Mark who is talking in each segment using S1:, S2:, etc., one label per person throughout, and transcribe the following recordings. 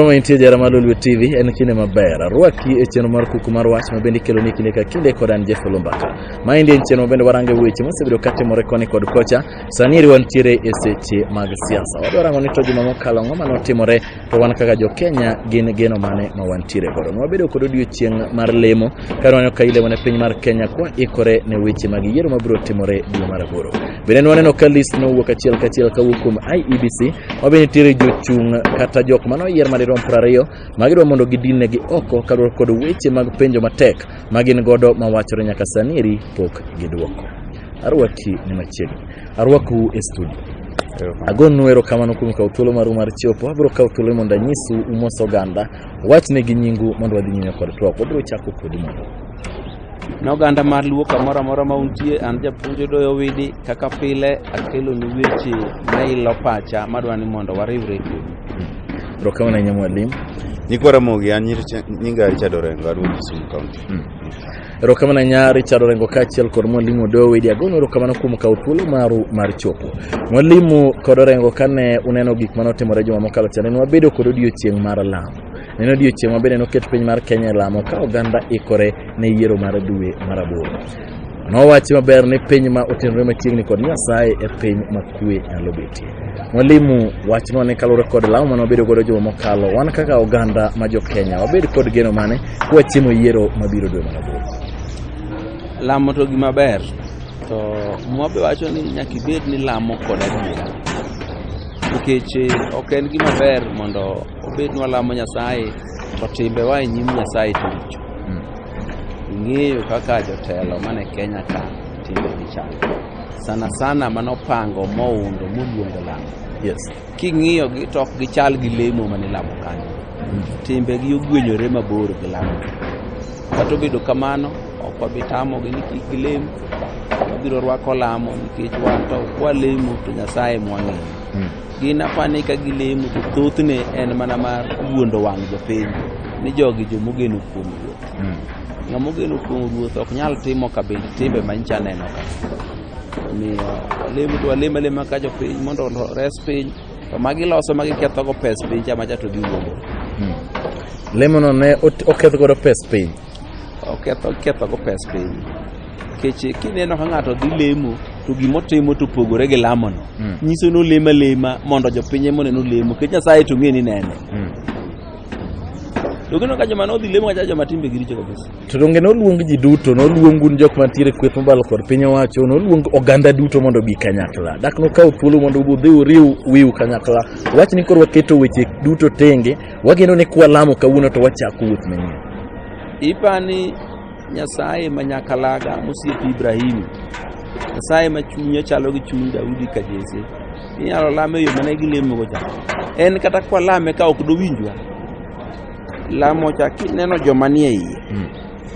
S1: Somo intie jara mar Lolwe TV en kinde maber. Arwaki e chenro mar kuku mar wach ma bende ikelo ni kinde ka kinde kod an Jeff Lumbaka. Ma endi en chenro ma bende warange weche mosebedo ka timore koni kod kocha. Sani eri wantiere e seche mag siasa. Wadwa rango ni to juma mokalo ang'o mane otimore to wan kaka jo Kenya gin geno mane ma wantiere godo. Ne wabedo kod odiechieng' mar lemo ka waneno ka ilemo ne piny mar Kenya kwa ikore ne weche mag yiero mabiro timore dwe mar aboro. Bende ne waneno ka list nowuok achiel kachiel kawuok kuom IEBC ma be nitiere jochung' kata jok mane oyier madirom piero ariyo ma gidwa mondo gidinegi oko kaluwore kod weche mag penjo matek ma gin godo ma wachore nyaka sani eri pok gidwoko. Arwaki ni machiegni. Arwaku e studio. Agonu erokamano kuom kawo thuolo maru mar chopo. Abiro kawo thuolo mondo anyisu umos oganda. Wachne gi nyingu mondo wadhi nyime kod twak. Wabiro chako kodi mondo Ne
S2: oganda mar Luo kamoro amora ma untie, an japuonj Odoyo Owidi, kaka pile akelonu weche ma ilo pacha madwa ni mondo wariwre kodu. Erokamano ahinya
S1: mwalimu. Nyikwa Ramogi,
S3: an nyir- nyinga Richard Orengo, aduo Kisumu County. Erokamano
S1: ahinya Richard Orengo kaachiel kod mwalimu Odoyo Owidi agono erokamano kuom kawo thuolo maru mar chopo. Mwalimu kod Orengo kane uneno gik mane otimore juma mokalo cha ne wabedo kod odiochieng' mar lamo. En odiechieng' ma bende noket piny mar Kenya e lamo ka oganda ikore ne yiero mar dwe mar aboro. Nowachi maber ni piny ma otenore machiegni kod Nyasaye e piny ma kwe nyalo betie. Mwalimu wachnwa ni kaluwore kod lamo mane wabedo godo juma mokalo, wan kaka oganda ma jo Kenya wabed kod geno mane kwachiemo yiero mabiro dwe mar aboro.
S2: Lamo to gima ber to mwa be wacho ni nyaka ibed ni lamo kod adiera nikech ok en gima ber mondo obed ni walamo nyasaye to timbewa e nyim nyasaye to richo ing'eyo kaka jotelo mane kenya ka timbegi chal sana sana manopango moundo moluongo lamo Yes.
S1: king'iyogi
S2: to ok gichal gi lemo mane lamo kanyo timbegi ogwenyore mabor gi lamo kata obedo kamano ok wabi tamogi ni kik gilem wabiro rwako lamo nikech wan to kwalemo to nyasaye mwang'eyo Gin apani ka gilemo to thothne en mana mar wuondo wang' jopiny ni jogi jomogeno kuom ruoth. Mm. Ng'ama ogeno kuom ruoth ok nyal timo kabinde timbe manyicha neno ka. Omiyo walemo to walemo alema ka jopiny mondo ores piny to ma giloso ma gikethogo pes piny cha macha to giwuondo. Mm.
S1: Lemono ne ot- oketh godo pes piny. Oketho
S2: ketho go pes piny. Keche kineno ka ng'ato dhi lemo to gima otimo to opogore gi lamono. Mm. Nyiso ni olemo alema mondo jopiny ema oneno lemo. Nikech Nyasaye to ng'e ni nene. Mm. To kineno ka joma nodhi lemo kacha joma timbe giricho kabisa. To donge noluong ji
S1: duto, noluong un jok mantiere kweth mobalo kod piny owacho, noluong oganda duto mondo obi kanyakla. Dak nokaw thuolo mondo udhi uriw wiu kanyakla. Wach ni koro waketo weche duto tenge Wageno ni kwalamo kawuono to wachako wuoth manyien. Ipani
S2: Nyasaye ma nyakalaga mosiepi Ibrahimu, Nyasaye ma chunye chalo gi chuny Daudi ka Jesse, inyalo lame e yo mane gilemogo cha. En kata kwalame ka ok dowinjwa, lamo cha kineno joma nie iye, hmm.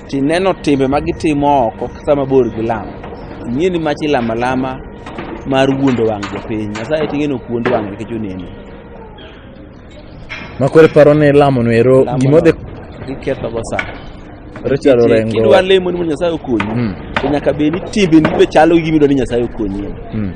S2: tineno timbe ma gitimo oko sama bor gi lamo, ing'e ni machi lama lama mar wuondo wang' jopiny. Nyasaye ting'e ni ok wuond wang' nikech oneno.
S1: Makore paro ni lamo no ero Lamo gima no. odhi Giketho go
S2: sa. ero chalo Kidwa
S1: rengo. lemo ni mondo Nyasaye
S2: okonyi. Mm. To nyaka bed ni timbeni be chalo gi gima idwa ni Nyasaye okonyi. Mm.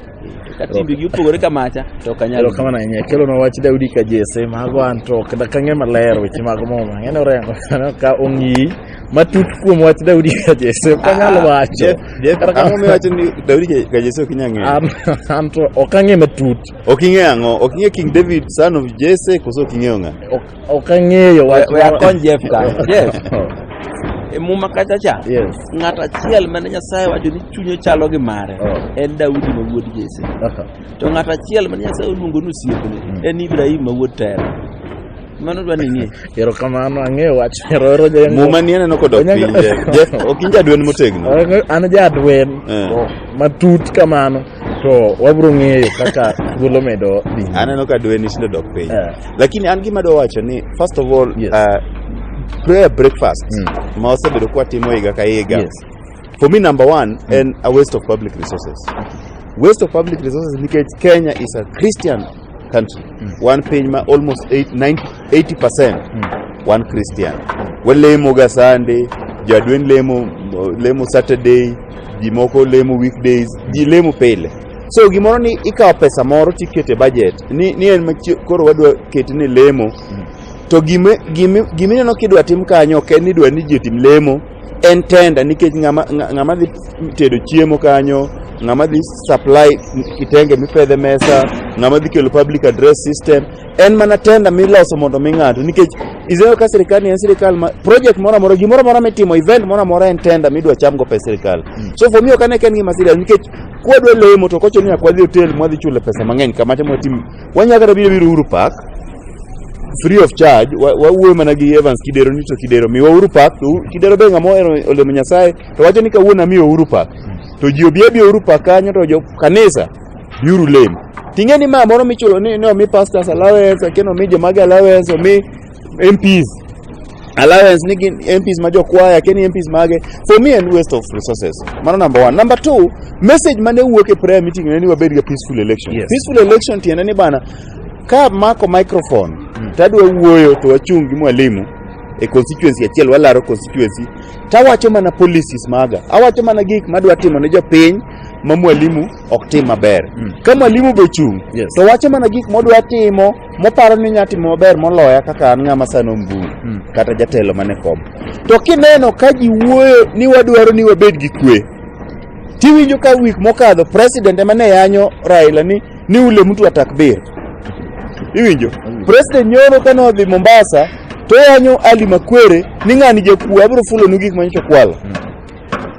S2: Ka timbegi opogore ka macha to ok anyal. Ero kama na nyaka kelo na wach
S1: Daudi ka Jesse mago an to ok dakang'e maler weche mag muma. Ng'ene orengo aneno ka ong'i matut kuom wach Daudi ka Jesse ok anyal wacho. Jeff, Jeff, Kata ang'o kamano- miwacho
S3: ni Daudi ka Jesse ok inyal ng'eyo? An an to
S1: ok ang'e matut. Ok ing'e ang'o? Ok
S3: ing'e King David son of Jesse koso ok ing'eyo ng'a? Ok ok ang'eyo
S1: wach. We akony Jeff ka.
S2: Jeff. E muma kacha cha. Yes. Ng'at
S1: achiel mane
S2: Nyasaye wacho ni chunye chalo gi mare Oh. en Daudi ma wuod Jesse. Aha. To ng'at achiel mane Nyasaye oluongo ni osiepne en Ibrahim ma wuod Tera. Mano dwa nini? Erokamano, ang'eyo
S1: wach. Eroero jengo. Muma ni aneno kodok Onyaga-
S3: piny. ja- ja- Ok in jadwen motegno. Ang'e- An jadwen
S1: Eh. to matut kamano to wabro ng'eyo kaka thuolo medo dhi. nyime. Aneno ka dweni tinde
S3: dok piny. Eh. Lakini an gima dwa wacho ni first of all Yes. uh, prayer breakfast Mm. ma wasebedo kwa timo higa ka higa. Yes. For me number one en a waste of public resources. Waste of public resources nikech Kenya is a Christian country mm. wan piny ma almost 80% mm. wan christian walemo ga sande jadwen lemo lemo saturday ji moko lemo weekdays ji lemo pile so gimoro ni ikawo pesa moro tikete budget ni, ni en koro wadwa keti ni lemo mm. to gima gima gima ineno kidwa tim kanyo ok en ni idwa ni ji otim lemo en tenda nikech ng'ama dhi tedo chiemo kanyo ng'ama dhi supply kitenge mipedhe mesa ng'ama dhi kelo public address system en mana tenda miloso mondo mi ng'ato nikech izeo ka sirikal ni en sirikal ma project moro amora gimoro amora mitimo event moro amora en tenda midwa cham go pesa sirikal mm. so for me ok ane ka en gima serious nikech kwadwa lemo to kocho ni akwadhi hotel mwadhi chule pesa mang'eny kama timo tim Wanyalo kata biro biro Uhuru Park free of charge, wawuoyo mana gi Evans Kidero ni to Kidero miwa Uhuru Park, to Kidero be ng'ama ohero olemo Nyasaye to wacho ni kawuono amiyo Uhuru Park, to ji obi abi Uhuru Park kanyo to jo kanisa biuru lemo. Ting'e ni ma moro michulo ni omi pastors allowance, akeno omi jomage allowance, omi MPs allowance ni gin MPs ma jokwaya ken MPs mage for me and waste of resources mano number one number two message mane wuok e prayer meeting ne ni wabed ga peaceful election Yes. peaceful election tiende
S1: ni
S3: bana ka mako microphone tadwa wuoyo to wachung' gi mwalimu e constituency achiel walaro constituency tawacho mana policies maga awacho mana gik madwa timo ne jopiny ma mwalimu ok tim maber ka mwalimu be ochung' Yes. to wacho mana gik modwa timo moparo ni nyati maber moloya kaka an ng'ama sani omburu hmm. kata jatelo mane kom to kineno ka ji wuoyo ni wadwaro ni wabed gi kwe tiwinjo ka wik mokadho president ema ne yanyo raila ni ni ule mtu atakbir iwinjo hmm. president nyoro kane odhi mombasa to yanyo ali makwere ni ng'ani jakuo abiro fulonu gik manyocha kwalo hmm.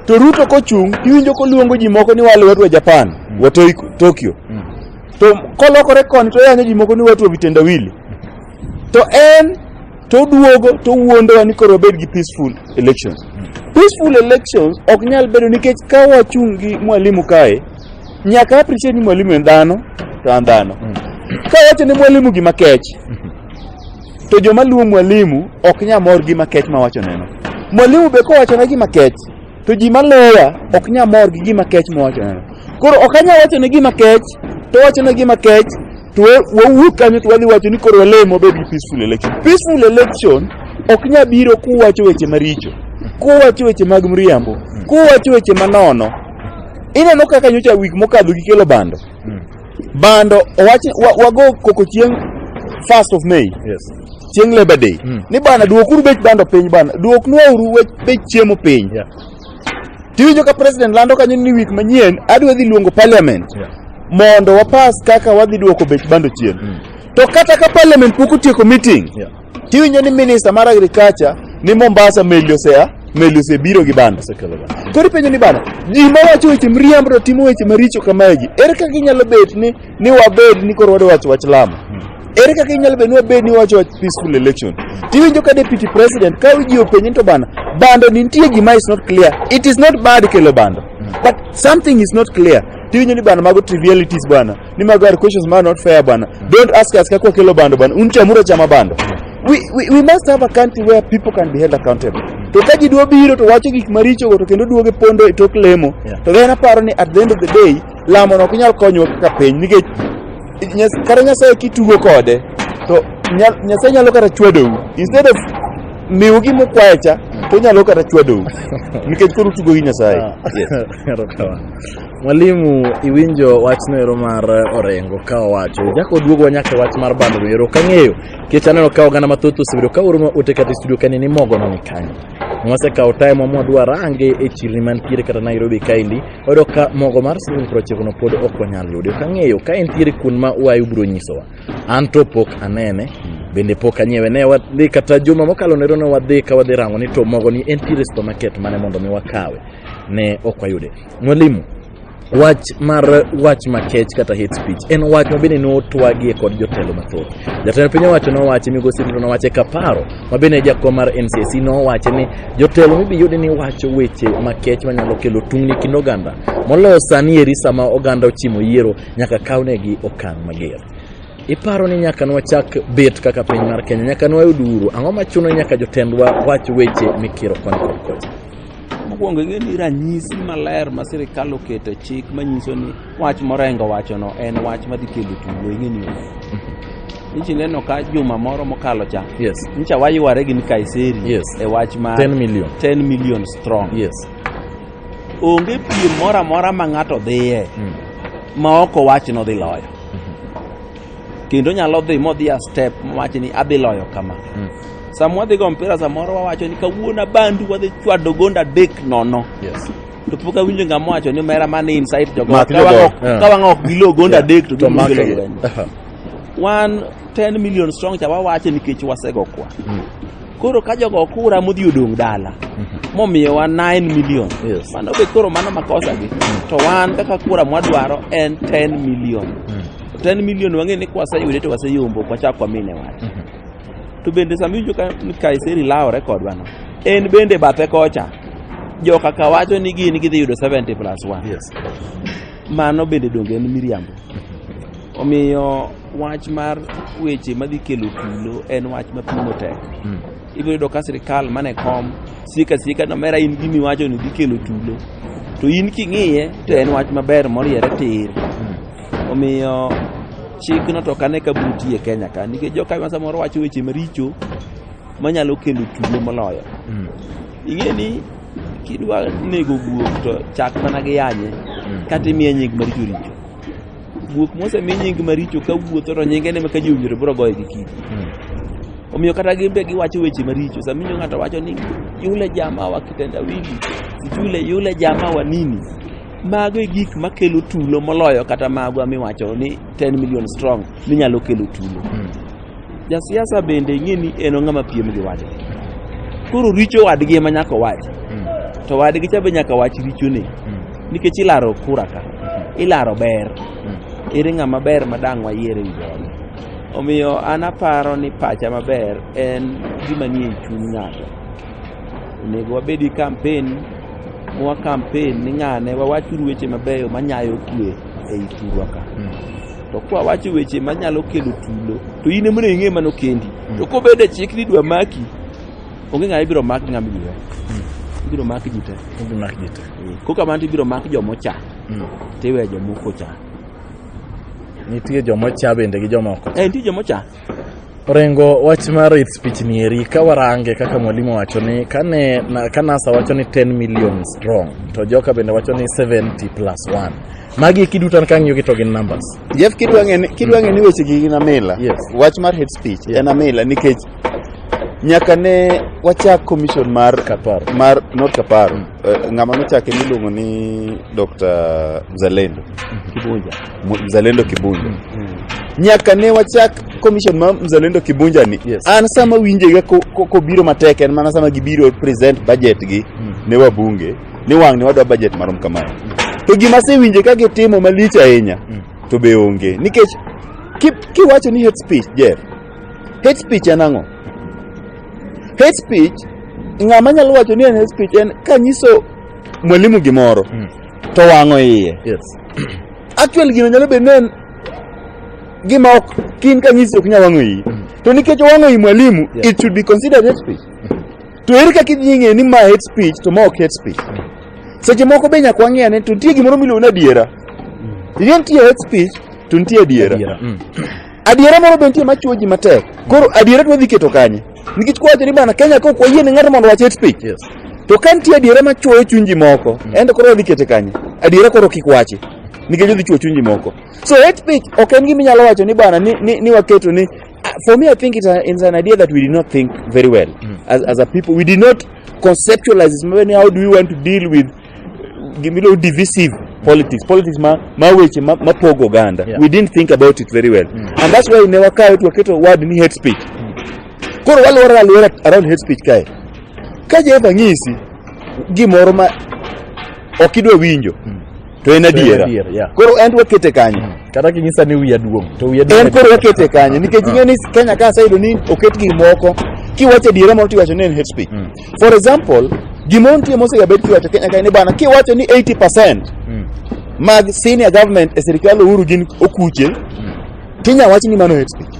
S3: to ruto kochung' tiwinjo koluongo ji moko ni wale wadwa japan wa tokyo to kolokore koni to yanyo ji moko ni watu wa vitendawili to en to oduogo to wuondowa ni koro wabed gi peaceful elections peaceful elections ok nyal bedo nikech ka wachung' gi mwalimu kae nyaka appreciate ni mwalimu en dhano to an dhano ka wacho ni mwalimu gima kech to joma luwo mwalimu ok nya mor gima kech ma wachoneno mwalimu be kowachona gima kech to ji maloya ok nya mor gi gima kech mowachoneno koro ok anya wachone gima kech to wachone gima kech to wawuok kanyo to wadhi wacho ni koro walemo bed gi peaceful election peaceful election ok nya biro kuwacho weche maricho kuwacho weche mag mriambo kuwacho weche manono ineno kaka nyocha wik mokadho gikelo bando Bando owach wa- wago koko chieng' first of May Yes. chieng'
S1: Labor Day Mm.
S3: ni bana duokuru bech bando piny bana duoknwauru wech- bech chiemo piny Yeah.
S1: tiwinjo
S3: ka president lando kanyo ni wik manyien adwa dhi luongo parliament Yeah. mondo
S1: wapas
S3: kaka wadhi duoko bech bando chien Mm. to kata ka parliament pok otieko meeting Yeah. Tiwinjo ni
S1: minister
S3: mar agriculture ni Mombasa meli osea meli osebiro gi banda osekelo banda. Koro ipenjo ni bana ji ma wacho weche mriambo to timo weche maricho kamae ji ere kaka inyalo bet ni ni wabed ni koro wadwa wacho wach lamo ere kaka inyalo bet ni wabed ni wacho wach peaceful election tiwinjo ka deputy president ka ji openje ni to bana bando ni nitie gima is not clear it is not bad kelo bando but something is not clear tiwinjo ni bana mago trivialities bana ni mago are questions ma not fair bana don't ask us kako kelo bando bana un chamura chama bando we, we, we must have a country where people can be held accountable to ka ji dwa biro to wacho gik maricho go to kendo duoge pondo e tok lemo Yeah. to then aparo ni at the end of the day lamo no ok nyal konyowa kaka piny nikech Nyas- kata nyasaye kitugo kode to nya- nyasaye nyalo kata chwadou instead of miwu gima ukwaye cha to onyalo kata chwadou nikech koro utugo gi nyasaye Yes. Erokamano.
S1: Mwalimu iwinjo wachno ero mar Orengo ka owacho jako duogo nyaka wach mar bando ero kang'eyo kech aneno ka oganda mathoth osebedo ka oro ote kata studio kani ni mogo no nikanye mwase kawo time mwa dwa range e chirni mantiere kata Nairobi kaendi oyudo ka mogo mar siling prochiko no pod ok wanyal yudo kang'eyo ka entiere kun ma wayu biro nyisowa an to pok anene bende pok anyiewe ne wadhi kata juma mokalo nero ne wadhi ka wadhi rango ni to mogo ni entiere supermarket mane mondo mi wakawe ne ok wayude Mwalimu, wach mar wach makech kata hate speech en wach ma bende notwagie kod jotelo mathoth. Jatend piny owacho nowache, migosi Ruto nowache kaparo, ma bende jakom mar NCC nowache ni jotelo mibiyudi ni wacho weche makech manyalo kelo tungni kind oganda. Moloyo sani eri sama oganda ochimo yiero nyaka kawnegi okang' mager. Iparo ni nyaka nwachak bet kaka piny mar Kenya, nyaka nwayud uhuru, ang'o machuno nyaka jotendwa wach weche mikiro koni kod kocha? Mokwongo ing'e
S2: ni ranyisi maler ma sirikal oketo e chik manyiso ni wach morengo wachono en wach madhi kelo tulo ing'e ni nchi neno ka juma moro mokalo cha yes. ncha wayware gi Kaiseri yes. e wach ma 10 million, 10 million strong yes. onge piem moro amora ma ng'ato dhiye mm. ma ok owach nodhi loyo kendo onyalo dhi modhi a step mowacho ni adhi loyo kama mm. sama wadhi go mpira samoro wawacho ni kawuono abandu wadhi chwado gonda adek nono yes. to
S1: pok awinjo
S2: ngama wacho ni mera man inside jogo ka wang'o
S1: ok gilo gonda
S2: adek to gimgilo wan 10 million strong cha wawache nikech wasego kwa mm. koro ka jogo kura modhi odong' dala mm-hmm. momiyowa 9 million yes. mano be koro
S1: mano
S2: makosa gi mm. to wan kaka kura mwadwaro en 10 million mm. 10 million wang'e ni kwaseyude to waseyombo kwachak wamine wach mhm. to bende sama iwinjo ka Kaiseri lawore kodwa no en bende bathe kocha jo kaka wacho ni gin gidhi yudo 70 plus 1 yes.
S1: mano
S2: bende donge en miriambo mhm. omiyo wach mar weche madhi kelo tulo en wach mapimo tek mm. ibiro yudo ka sirikal mane kom sika sika nomera in gimi wacho ni dhi kelo tulo to in king'iye to en wach maber moriere tir Omiyo chikno to kane ka buti e Kenya ka nikech joka ma samoro wacho weche maricho manyalo kelo tulo moloyo. Mm. Ing'e ni kidwa nego guok to chak mana gi yanye mm. kata imiye nying maricho richo. Guok mosemi nying maricho ka wuotho to nyinge ne maka ji owinjore biro goye gi kidi. Mm. Omiyo kata gin be giwacho weche maricho. Saminyo ng'ato wacho ni yule jamaa wa kitendawili, yule yule jamaa wa nini. Mago e gik makelo tulo moloyo kata magwa miwacho ni 10 million strong ni nyalo kelo tulo. Hmm. Jasiasa bende ing'e ni en ng'ama piem gi wadgi. Koro richo wadgi ema nyaka owach. Hmm. To wadgi cha be nyaka wach richone. Hmm. Nikech ilaro kura ka. Ilaro ber. Ere ng'ama ber ma dang' wayier e wi jogi. Omiyo an aparo ni pacha maber en gima nie chuny ng'ato. Onego wabed gi kampen mwa kampen ni ng'ane wawachuru weche mabeyo manyayo kwe e i thurwa ka hmm. to kwa wacho weche manyalo kelo tulo to in emone ing'e mano kendi hmm. to kobed e chik ni dwa maki onge ng'ama ibiro mak ng'ama ibiro hmm. ibiro mak ji te ibiro mak ji te eh, ko kamano to ibiro mak joma ocha to iweyo joma ok ocha
S1: nitie joma ocha bende gi joma ok ocha eh, nitie joma ocha
S2: Orengo
S1: wach mar its pichni eri ka warange kaka mwalimu wacho ni kane na, ka NASA wacho ni 10 million strong to joka bende wacho ni 70 plus 1 magi kiduto an kang'iyo gi to gin numbers Jeff kidwa ng'e ni-
S3: kidwa ng'e ni weche gi gin amila Yes. wach mar hate
S1: speech
S3: Yeah. en amila nikech nyaka ne wachak commission mar Kaparo. mar not kaparo Eh, ng'ama nochake miluongo ni Dr. Zalendo Kibunja Mzalendo Kibunja. Mm -hmm. Nyaka ne wachak commission ma Mzalendo Kibunja ni. Yes. An sama winje
S1: ga
S3: ko, ko, ko biro matek en mana sama gibiro present budget gi mm -hmm. ne wabunge ni wang' ni wadwa budget marom kamano. Mm -hmm. To gima se winje ka gitimo malich ahinya mm -hmm. to be onge nikech kiwacho ni hate speech Jeff. Hate speech en ang'o? Hate speech ng'ama nyalo wacho ni en hate speech en kanyiso mwalimu gimoro. Mm -hmm. to wang'o iye. Yes.
S1: Actually
S3: gino nyalo bedo nen gima ok kin kanyisi ok nyal wang'o iyi. To nikech owang'o iyi mwalimu, Yeah. it should be considered hate speech. To ere kaka idhi ng'eyo ni ma hate speech to ma ok hate speech. Seche moko be nyaka wang'e ane to nitie gimoro miluongo ni adiera. Nitie hate speech to nitie adiera. Adiera. Mm. Adiera moro bentie ma chuo ji matek. Koro adiera to wadhi keto kanye? Nikech kwacho ni bana Kenya ka ok wayie ni ng'ato mondo wach hate speech. Yes. To ka nitie
S1: adiera
S3: ma chuoyo chuny ji moko, mm. ende koro wadhi kete kanye? Adiera koro kik wachi. Nikech odhi chuo chuny ji moko. So hate speech ok en gima inyalo wacho ni bana ni, ni, ni waketo ni for me I think it's, a, it's an idea that we did not think very well mm. as, as a people. We did not conceptualize this. How do we want to deal with gimiluongo divisive politics politics ma, ma weche ma, ma pogo oganda Yeah. we didn't think about it very well and that's why ne wakawe to waketo word ni hate speech koro walwora alwora around hate speech kae ka jehova ng'isi gimoro ma ok idwa winjo to en adiera adiera, yeah. koro en to wakete kanyo kata kinyisa ni wiya
S1: duong' to wiya en koro wakete kanyo
S3: nikech ing'e ni kenya ka aseyudo ni oket gik moko kiwacho adiera moro tiwacho ni en hate speech For example, gimontie mosegabed kiwacho Kenya kae ni bana kiwacho ni 80% Mm. mag senior government e sirkal Uhuru gin okuche, tinya wach ni mano hate speech.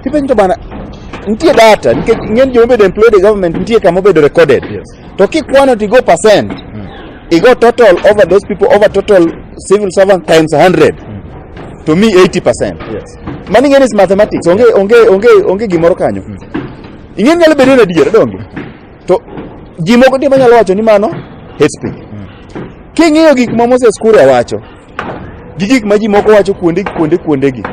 S3: Kipenjo to bana nitie data nikech ng'eny joma obedo employed e government nitie kama obedo recorded. Yes. To kikwano tigo percent, igo total over those people over total civil servant times 100 to me 80%. Yes. Mano ing'e ni is mathematics, onge onge onge onge gimoro kanyo. ing'e nyalo bedo ni adier donge to ji moko nitie manyalo wacho ni mano hate speech king'iyo gik ma Moses Kuria wacho gi gik ma ji moko wacho kuonde kuonde kuonde gi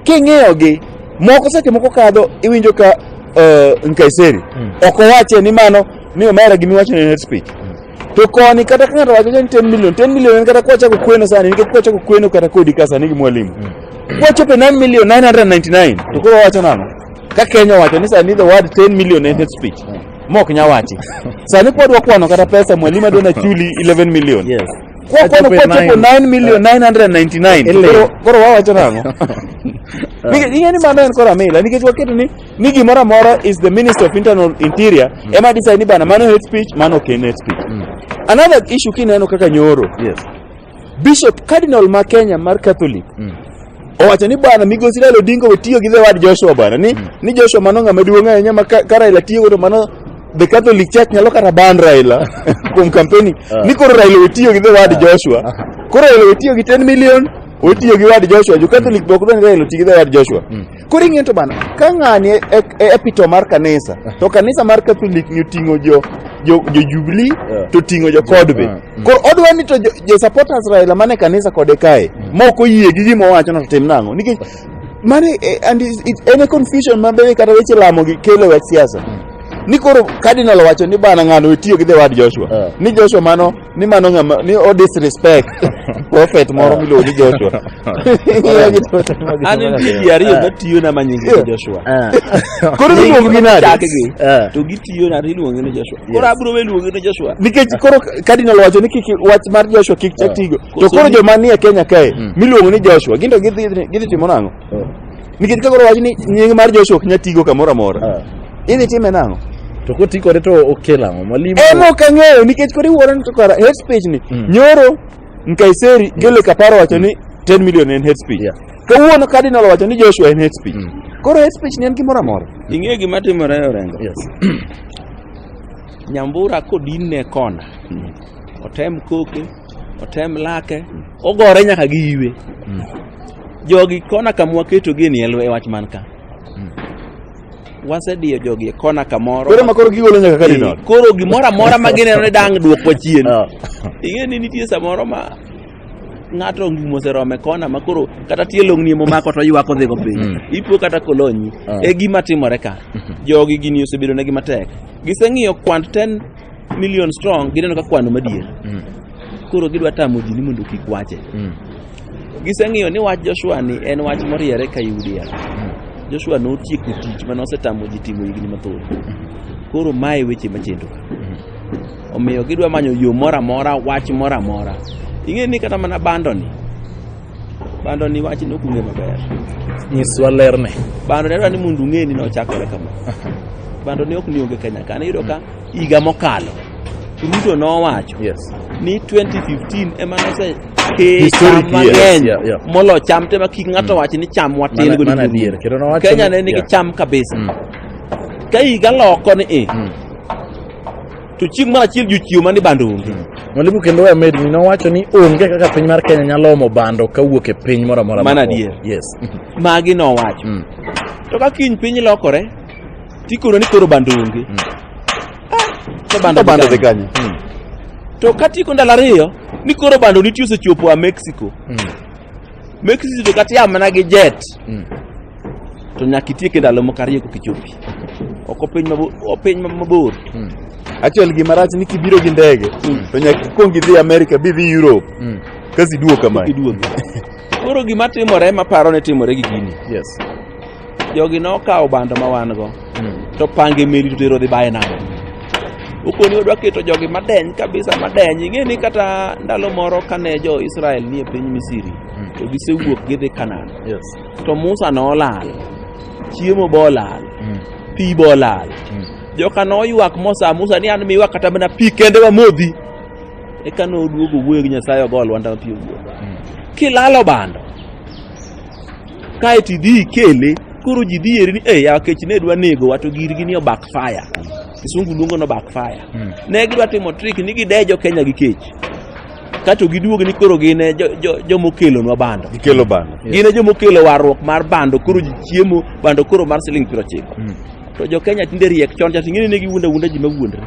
S3: king'iyo gi moko seche moko kadho iwinjo ka uh, Nkaiseri Mm. ok owache ni mano ni omera gimi wacho ni hate speech to koni kata ka ng'ato wacho ni 10 million 10 million en kata kwachako kweno sani nikech kwachako kweno kata kodi ka sani gi mwalimu kwachope 9 million 999 to koro wacho nang'o ka Kenya owacho ni sani the word 10 million en hate speech mok nya wachi sani kwa dwa kwano kata pesa mwalimu adwa na chuli 11 million Yes. kwa kwano
S1: kwa Achopo
S3: e chopo nine. 9 million 999 Ele. Koro- koro wawacho nang'o Nikech- ing'e ni mano en koro amila nikech waketo ni ni gimoro amora is the minister of internal interior ema decide ni bana mano hate speech mano ok en hate speech another issue kineno kaka nyoro Yes.
S1: Bishop
S3: Cardinal ma Kenya mar Catholic mm. owacho ni bwana migosi Raila Odinga we tiyo gi the word Joshua bwana ni, mm. ni Joshua mano ng'ama duong' ahinya ma ka, ka Raila tiyo godo mano the Catholic Church nyalo kata ban Raila kuom kampeni uh. Ah. ni koro Raila we tiyo gi the word ah. Joshua ah. koro Raila we tiyo gi 10 million we tiyo gi word Joshua jo Catholic mm. bok dwani Raila oti gi the word Joshua mm. Koro ing'eyo to bana, ka ng'ani e, e, e epito mar kanisa, to kanisa mar Catholic ni oting'o jo jo, jo Jubilee Yeah. to oting'o jo kod be. Yeah. Mm. Koro odwa ni to jo, jo supporters Raila mane kanisa kode kae, ma ok oyie gi gima owacho no to tim nang'o? Nikech mane eh, and it, it, en e confusion ma bende kata weche lamo gi kelo e wach siasa. Ni koro cardinal owacho ni bana ng'ano otiyo gi the word Joshua. Yeah. Ni Joshua mano ni mano ng'ama ni o disrespect prophet moro miluongo ni Joshua Ing'eyo gi to- an
S2: nitie ji ariyo matiyona ma nyingi Yeah. Joshua koro
S3: iluongo gi nade Chakgi. Eh. to gitiyona
S2: to iluongo ni Joshua koro abiro we luongo ni Joshua nikech koro cardinal
S3: wacho ni kik wach mar Joshua kik chak tigo to Koso koro ni- joma nie Kenya kae miluongo ni Joshua gin to gidhi gidhi timo nang'o Nikech kagoro wach ni nying mar Joshua ok nyal tigo kamoro amora. Ah. Idhi time nang'o? To koti kode to
S1: okelo ang'o? Mwalimu. Ema ok ang'eyo nikech
S3: kori wuoro ni to kara hate speech ni. Mm. Nyoro Nkaiseri Gele Kaparo wacho ni 10 mm. million en hate speech. Yeah. Kawuono Cardinal wacho ni Joshua en hate speech. Mm. Koro hate speech ni en gimoro amora. Mm. Ing'eyo gima timore
S2: e Orengo? Yes.
S1: Nyambura
S2: kodin ne kona. Mm. Otem koke, otem lake, mm. ogore nyaka gi iwe. Mm. Jogi kona kama waketogie ni e wach man ka. Hmm. Wasediyo jogi e kona kamoro. Koro makoro gigolo nyaka
S3: kadinol. Eh, koro gimoro amora
S2: ma gineno ni dang' dwoko chien. Ah. Ing'e ni nitie samoro ma ng'ato ongi moserome kona ma koro kata tie long'ni momako to ywak odhigo piny mm. ipo kata kolonyi ah. e gima timore ka mm-hmm. jogi gini osebedo negi matek giseng'iyo kwand 10 million strong gineno ka kwano madier mm. Koro gidwa tamo ji ni mondo kik wache. Mm. Giseng'iyo ni wach Joshua ni en wach moriere ka Yudia. Mm. Joshua notieko tich mane osetamo ji timo higni mathoth. Mm. Koro mae weche machendo. Mm. Omiyo gidwa manyo yo moro amora, wach moro amora. Ing'e ni kata mana bando ni, bando ni wach ni okunge maber. Nyiswa
S1: lerne. Bando ni adwa ni mondo
S2: ung'e ni nochakore kama. Bando ni ok ni onge Kenya ka. Iyudo ka higa mokalo Ruto nowacho Yes. ni 2015 ema nose ke Historic cham years, mang'eny yeah, yeah. molo cham te ma kik ng'ato wachi ni cham watin Mana- godo mana duto. adier, kendo nowacho Kenya ni- ne nigi yeah. cham kabisa Mm. ka higa loko ni i Mm. to chieng' mar achiel jochiwo mani bando onge Mwalimu kendo we
S1: med mi nowacho ni onge kaka piny mar Kenya nyalo omo bando kawuok e piny moro amora. Mana moko. adier. Yes. magi
S2: nowacho Mm. to ka kiny piny lokore Tikoro ni koro bando onge. Mm. Ah, to bando bando de gani. Mm.
S3: To
S2: katiko ndalo ariyo ni koro bando nitie osechopo a Mexico. Mm. Mexico to kata yamana gi jet. Mm. To nyaka itieke ndalo moko ariyo kokichopi. Oko piny mabor, piny mabor. Mm. Actually
S3: gima rach ni kibiro gi ndege mm. to nyaka ikwong idhi America bi dhi Europe. Mm. Kasi duoka mai. Iduoka. Koro
S2: gima timore maparo ne timore gi gini. Yes.
S1: jogi
S2: nokawo bando ma wan go hmm. to pange meli to tero dhi baye nam ukoni odwa keto jogi madeny kabisa madeny ing'e ni kata ndalo moro kane jo israel nie piny misiri hmm. to gisewuok gidhi kanan to musa nolal chiemo bolal hmm. pi bolal joka noywak mosa musa ni an miwa kata mana pi kende wamodhi eka noduogo wuoyo gi nyasaye ogolwa ndawa pi owuogo kilalo bando kaeto idhi ikele koro ji dhi eri ni e yawa kech ne dwa nego wa to girgi ni obak fire kisungu luongo no back fire Hmm. ne gidwa timo trick ni gidejo kenya gi kech kato giduog ni koro gin e jo- jo- jomokelonwa bando Gikelo bando. gin e
S3: jomokelo
S2: warruok mar bando koro ji chiemo bando koro mar siling piero ochiko Mm. to jo kenya tinde riek chon cha ting'eni ne giwuonda wuonda ji mawuondre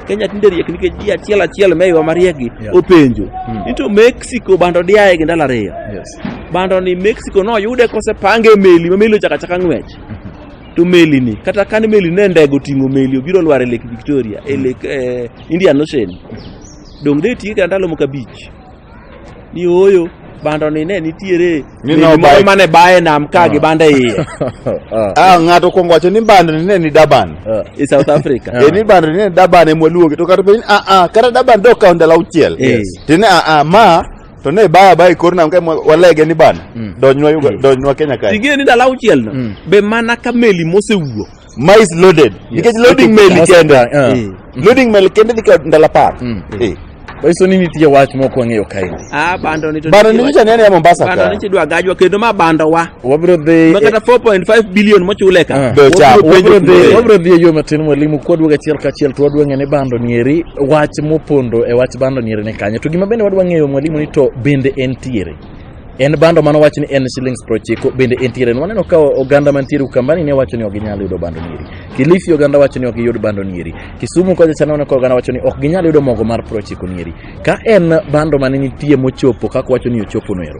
S2: kenya tinde riek nikech ji achiel achiel meywa mariekgi Yeah. openjo Mm. ni to mexico bando diaye gi ndalo ariyo Yes. bando ni Mexico noyude kosepange e meli ma meli ochakachaka ng'wech to meli ni kata kane meli ne ndego ting'o meli obiro lwar e Lake Victoria e Lake eh, Indian Ocean donge de tiye kata ndalo moko abich ni oyo bando ni ne nitiere Ni meli no moro bike. mane baye nam ka gi bando e iye Ah, ng'ato
S3: kuongo wacho ni bando ni ne ni Durban. e South Africa
S2: Eh, ni bando ni ne Durban
S3: emwaluonge to kata piny ah ah kata Durban dok kawo ndalo auchiel. Eh. Tine ah ah ma to ne baya baya kor nam ka walege ni bana mm. donjwa yuga mm. donjwa Kenya kae tige ni dala uchiel na
S2: mm. be mana ka meli mosewuo mais loaded
S3: nikech yes. loading meli kenda uh. Eh. loading meli kenda dika ndala par mm. eh. Baiso nini
S1: tije wach moko ang'eyo kae. Ah bando ni to. Bando
S2: ni nyicha nene ya Mombasa
S3: ka. Bando ni chidwa gajwa kendo ma
S2: bando wa. wabiro dhi ma kata
S1: 4.5
S2: billion mochule ka Ah. Be cha- Wabiro penjo wabiro dhi- kuno.
S1: wabiro dhi e yo matin mwalimu kwaduog achiel kachiel to wadwa ng'e ni bando nieri wach mopondo e wach bando nieri ni kanye to gima bende wadwa ng'eyo mwalimu ni to bende entiere en bando mano wach ni en shillings prochiko bende entiere ni waneno ka oganda mantiere ukambani ne wacho ni ok ginyal yudo bando nieri kilifi oganda wacho ni ok giyud bando nieri kisumu kocha chana waneno ka oganda wacho ni ok ginyal yudo mogo mar prochiko nieri ka en bando mane nitie mochopo kaka wacho ni ochopo noero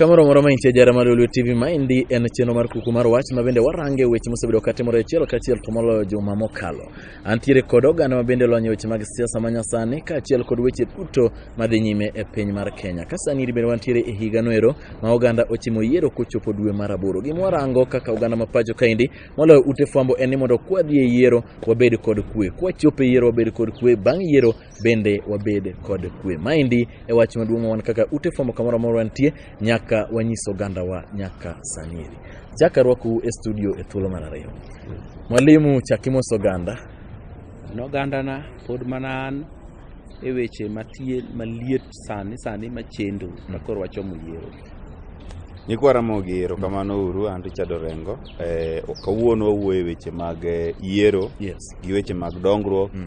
S1: Kamoro moro ma intie jara mar Lulu TV ma endi en chenro mar kuku mar wach ma bende warange weche mosebedo katimore achiel kachiel to moloyo juma mokalo. Antiere kod oganda ma bende lonyo weche mag siasa ma nyasani kaachiel kod weche duto madhi nyime e piny mar Kenya. Ka sani iri bende wantiere e higa noero ma oganda ochimo yiero kochopo dwe mar aboro. Gima warango kaka oganda ma pacho kaendi moloyo ute fwambo en ni mondo kwadhi e yiero wabed kod kwe, kwachopo e yiero wabed kod kwe, bang' yiero bende wabed kod kwe. Maendi e wach maduong' wan kaka ute fwambo kamoro amora wantie nyaka wanyis ogandawa nyaka sanieri. Chak arwakou e studio e thuolo mar ariyo. Mwalimu chak imoso oganda. An
S2: ogandana pod mana an e weche matie maliet sani sani machendo ma koro wachomo yiero. Nyikwa
S3: Ramogi erokamano uru an Richard Orengo. Eh, kawuono wawuoyo e weche mag eh, yiero Yes. gi weche mag dongruok Mm.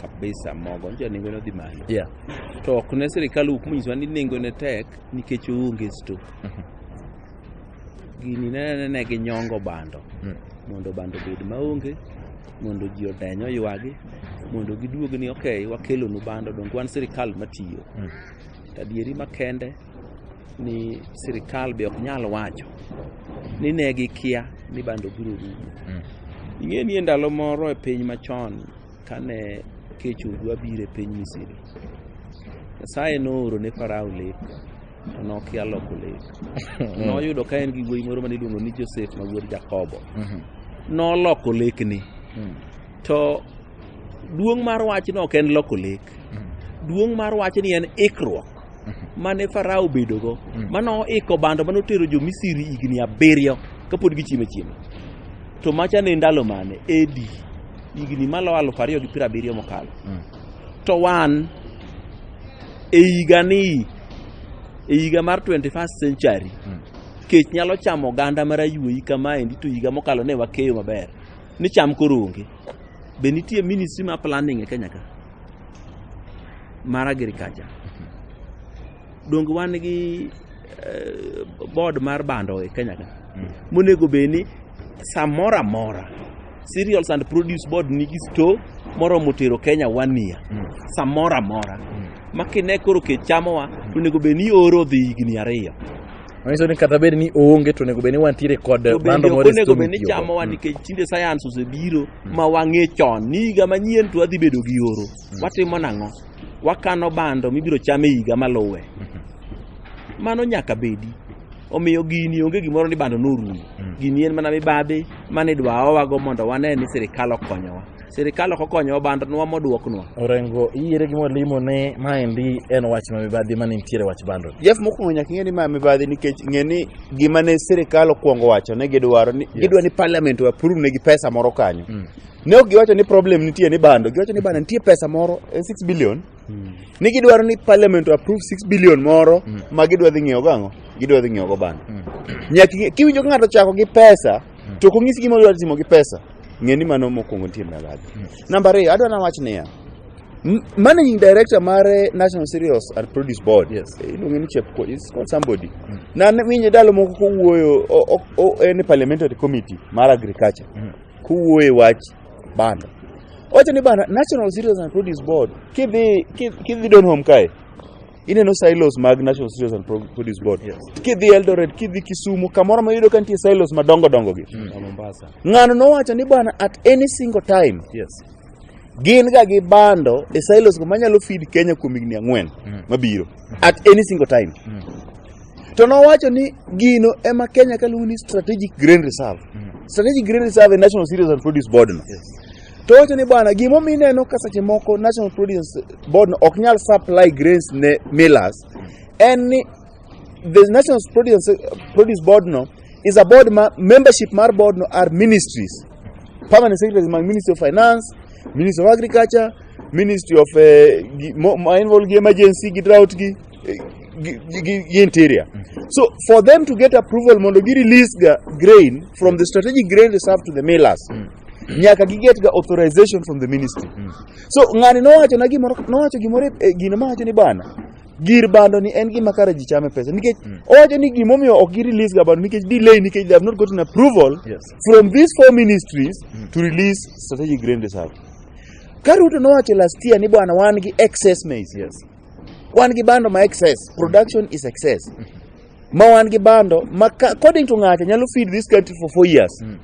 S2: kabisa
S1: mogo
S2: nje nengo ne dhi malo yeah. to ok
S1: ne
S2: sirikal wuok monyisowa ni nengo ne tek nikech oonge sto mhm. gini nenene ne gi nyongo bando mm. mondo bando obed maonge mondo ji odeny oywagi mondo giduog ni ok wakelonu bando donge wan sirikal matiyo mm. tadieri makende ni sirikal be ok nyal wacho ni ne gikia ni bando biro rumo. Mm. Ing'e ni e ndalo moro e piny machon kane kech odwa biro e piny Misri, Nyasaye nooro ne Farao lek to nokia loko lek. Mm. Noyudo ka en gi wuoyi moro ma niluongo ni Josef ma wuod Jakobo. Mm-hmm. Noloko lekni. Mm. To duong' mar wachno ok en loko lek. Duong' mar wachni en ikruok. mane Farao obedogo mm. mane oiko bando mane otero jo Misri higni abiriyo kapod gichiemo achiema to macha ne ndalo mane edi higni malo aluf ariyo gi piero abiriyo mokalo mm. to wan e higani e higa mar 21st century mm. kech nyalo chamo oganda mar ayuoyi kamaendi to higa mokalo ne wakeyo maber ni cham koro onge be nitie ministry ma planning e Kenya ka mar agriculture donge wan gi eh, board mar bando e Kenya ka monego bed ni samoro amora cereals and produce board nigi store moromo tero Kenya one year samoro amora ma kine koro kech chamowa to onego bed ni oro dhi higni ariyo Manyiso
S1: ni kata bed ni oonge to onego bed ni wantiere kod To bando bende ok moro e onego store bed ni mitiyogo. chamowa
S2: nikech tinde science osebiro ma wang'e chon ni higa manyien to wadhi bedo gi oro mm. watimo nang'o wakano bando mibiro cham e higa maluwe mm-hmm. mano nyaka bedi omiyo gini onge gimoro ni bando norumo mm. gini en mana mibadhi mane idwa owago mondo wane ni sirikal okonyowa sirikal ok okonyowa bando nwa moduoknwa orengo iyiere
S1: gi mwalimu ni maendi en wach ma mibadhi mane nitiere wach bando jef mokwongo nyaka ing'e ni
S3: ma mibadhi nikech ng'e ni gima ne sirikal okwongo wacho ne gidwaro ni gidwa ni parliament o approve negi pesa moro kanyo ne ok giwacho ni problem nitie ni bando giwacho ni bando nitie pesa moro eh, 6 billion ni gidwaro ni parliament o approve 6 billion moro ma gidwa dhi ng'iewo go ang'o gidwa dhi ng'iewo go bando nyaka ing'e- kiwinjo ka ng'ato chako gi pesa to ok onyisi gima odwa timo gi pesa ng'e ni mano mokwongo nitie mibadhi namba ariyo adwa nawach niya m- managing director mar eh, national cereals and produce board Yes. eh, iluonge ni chep
S1: is
S3: called somebody na ne- winje ndalo moko kowuoyo o- o- o- en e parliamentary committee mar agriculture kowuoyo e wach bando owacho ni bana national cereals and produce board kidhi kidhi- kidhi donholm kae Ineno silos mag National Cereals and Pro- Produce Board. Yes. Kidhi Eldoret,
S1: kidhi
S3: Kisumu, kamoro ma yudo ka nitie silos madongo dongo gi. Na Mombasa. Ng'ano
S2: nowacho ni
S3: bwana at any single time Yes.
S1: gin
S3: ga gi bando e silos go manyalo feed Kenya kuom higni ang'wen Mm. mabiro at any single time. Mm. To nowacho ni gino ema Kenya kaluongo ni strategic grain reserve. Mm. Strategic grain reserve e National Cereals and Produce Board no. Yes. To wacho
S1: ni bwana,
S3: gimomiyo ineno ka seche moko National Prudence Board ok nyal supply grains ne millers en ni the National Prudence, Prudence Board no is a board ma membership mar board no are ministries permanent secretaries mag Ministry of Finance, Ministry of Agriculture, Ministry of eh, gi- mo- ma involve gi emergency gi drought gi eh, gi, gi, gi- gi interior. So for them to get approval mondo gi release ga grain from the strategic grain reserve to the millers nyaka giget ga authorization from the ministry mm. so ng'ani nowacho na gimoro nowacho gimoro e eh, gino mawacho ni bana gir bando ni en gima kare ji chame pesa nikech mm. owacho ni gimomiyo ok gi release ga bando nikech delay nikech they have not gotten approval yes. from these four ministries mm. to release strategic grain reserve ka Ruto nowacho last year ni bwana wan gi excess maize yes.
S1: wan gi
S3: bando ma excess production is excess mm -hmm. ma wan gi bando ma ka- according to ng'acha nyalo feed this country for four years Mm.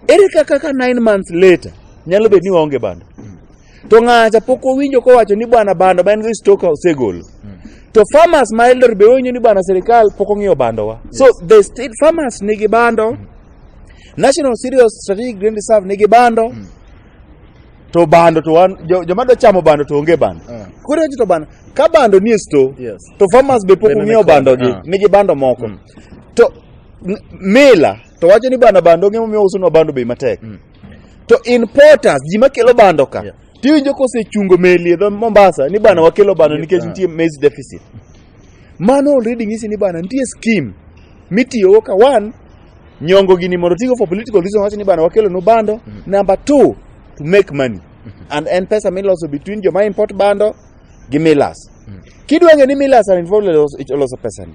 S3: ere kaka ka nine months later nyalo bedo ni waonge bando to ng'acha pok owinjo kowacho ni bwana bando ma en go stock osegolo to farmers ma elder be owinjo ni bwana sirikal pok ong'iyo bandowa so the state farmers nigi bando national cereals strategic grain reserve nigi bando to bando to wan jo- joma dwa chamo bando to onge bando Ah. koro to bando ka bando nie sto Yes. to farmers be
S1: pok Bende
S3: ong'iewo nikod, bando gi ah. nigi bando moko Mm. to n- mila to wacho ni bana bando onge momiyo usonwa bando bei matek Mm. to importers ji makelo bando ka Yeah. tiwinjo kosechungo meli e dho mombasa ni bana wakelo bando Yeah. nikech Ah. nitie maize deficit mano already nyisi ni bana nitie scheme mitiyogo ka one Nyongo gini mondo tigo for political reason wacho ni bana wakelo no bando. Mm -hmm. Number two, to make money. Mm -hmm. And en pesa miloso between joma import bando gi millers. Mm -hmm. Kidwa ng'e ni millers are involved e loso pesa ni.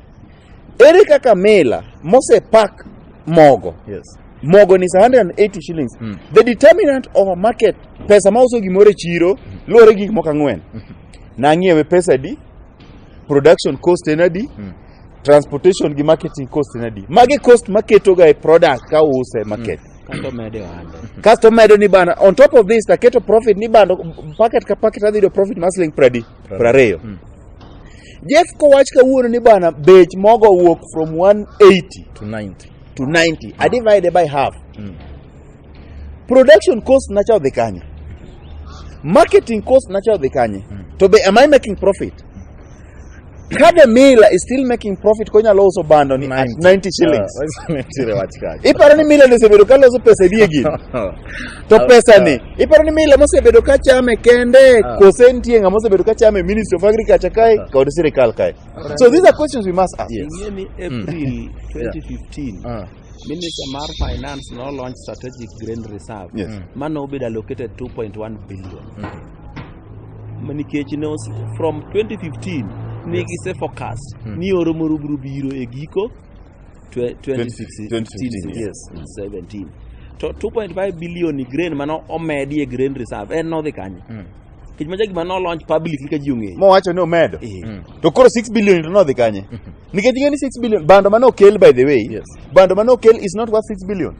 S3: Ere kaka mila mose pack mogo. Yes. Mogo
S1: ni 180
S3: shillings. Mm. The determinant of a market pesa ma uso gimoro e chiro mm. luwore gik moko ang'wen. Mm. Nang'iewe pesa di, production cost en adi, mm. transportation gi marketing cost en adi magi cost maketoga e product ka uuse e market Kato mede ohande. kasto medo ni bana on top of this taketo profit ni bando packet ka packet adhi yudo profit mar siling pradi prariyo Mm. jeff kowach kawuono ni bana bech mogo owuok from 180 to 90 to 90 i divide by half Mm. production cost nacha odhi kanye marketing cost nacha odhi kanye to be am i making profit kade mila is still making profit konyalo uso bando ni at 90 shillings Ah, nitiere wach kacha. iparo ni mila nosebedo ka loso pesa edie gini to Ah, pesa ni ah. iparo ni mila mosebedo ka chame kende Ah. kose nitie ng'ama osebedo ka chame ministry of agriculture kae Ah. kod sirikal kae so these are questions we must ask Yes. ing'e ni april
S2: 2015 Ah. Minister mar Finance no launch strategic grain reserve. Yes. Mm. Mano obedo
S3: allocated
S2: 2.1 billion. Mm. Nikech ne from 2015 ne yes. gise forecast mm. ni oro moro biro biro e giko 2016 2016 yes 17 to 2.5 billion grain mano omedi e grain reserve en nodhi kanye mm. Kech maja gima no launch public ka ji ong'eyo. Mowacho ni omedo. Eh. Mm.
S3: To koro 6 billion to nodhi kanye? Mm-hmm. Nikech ing'e ni 6 billion bando mane okel by the way. Yes. Bando mane okel is not worth 6 billion.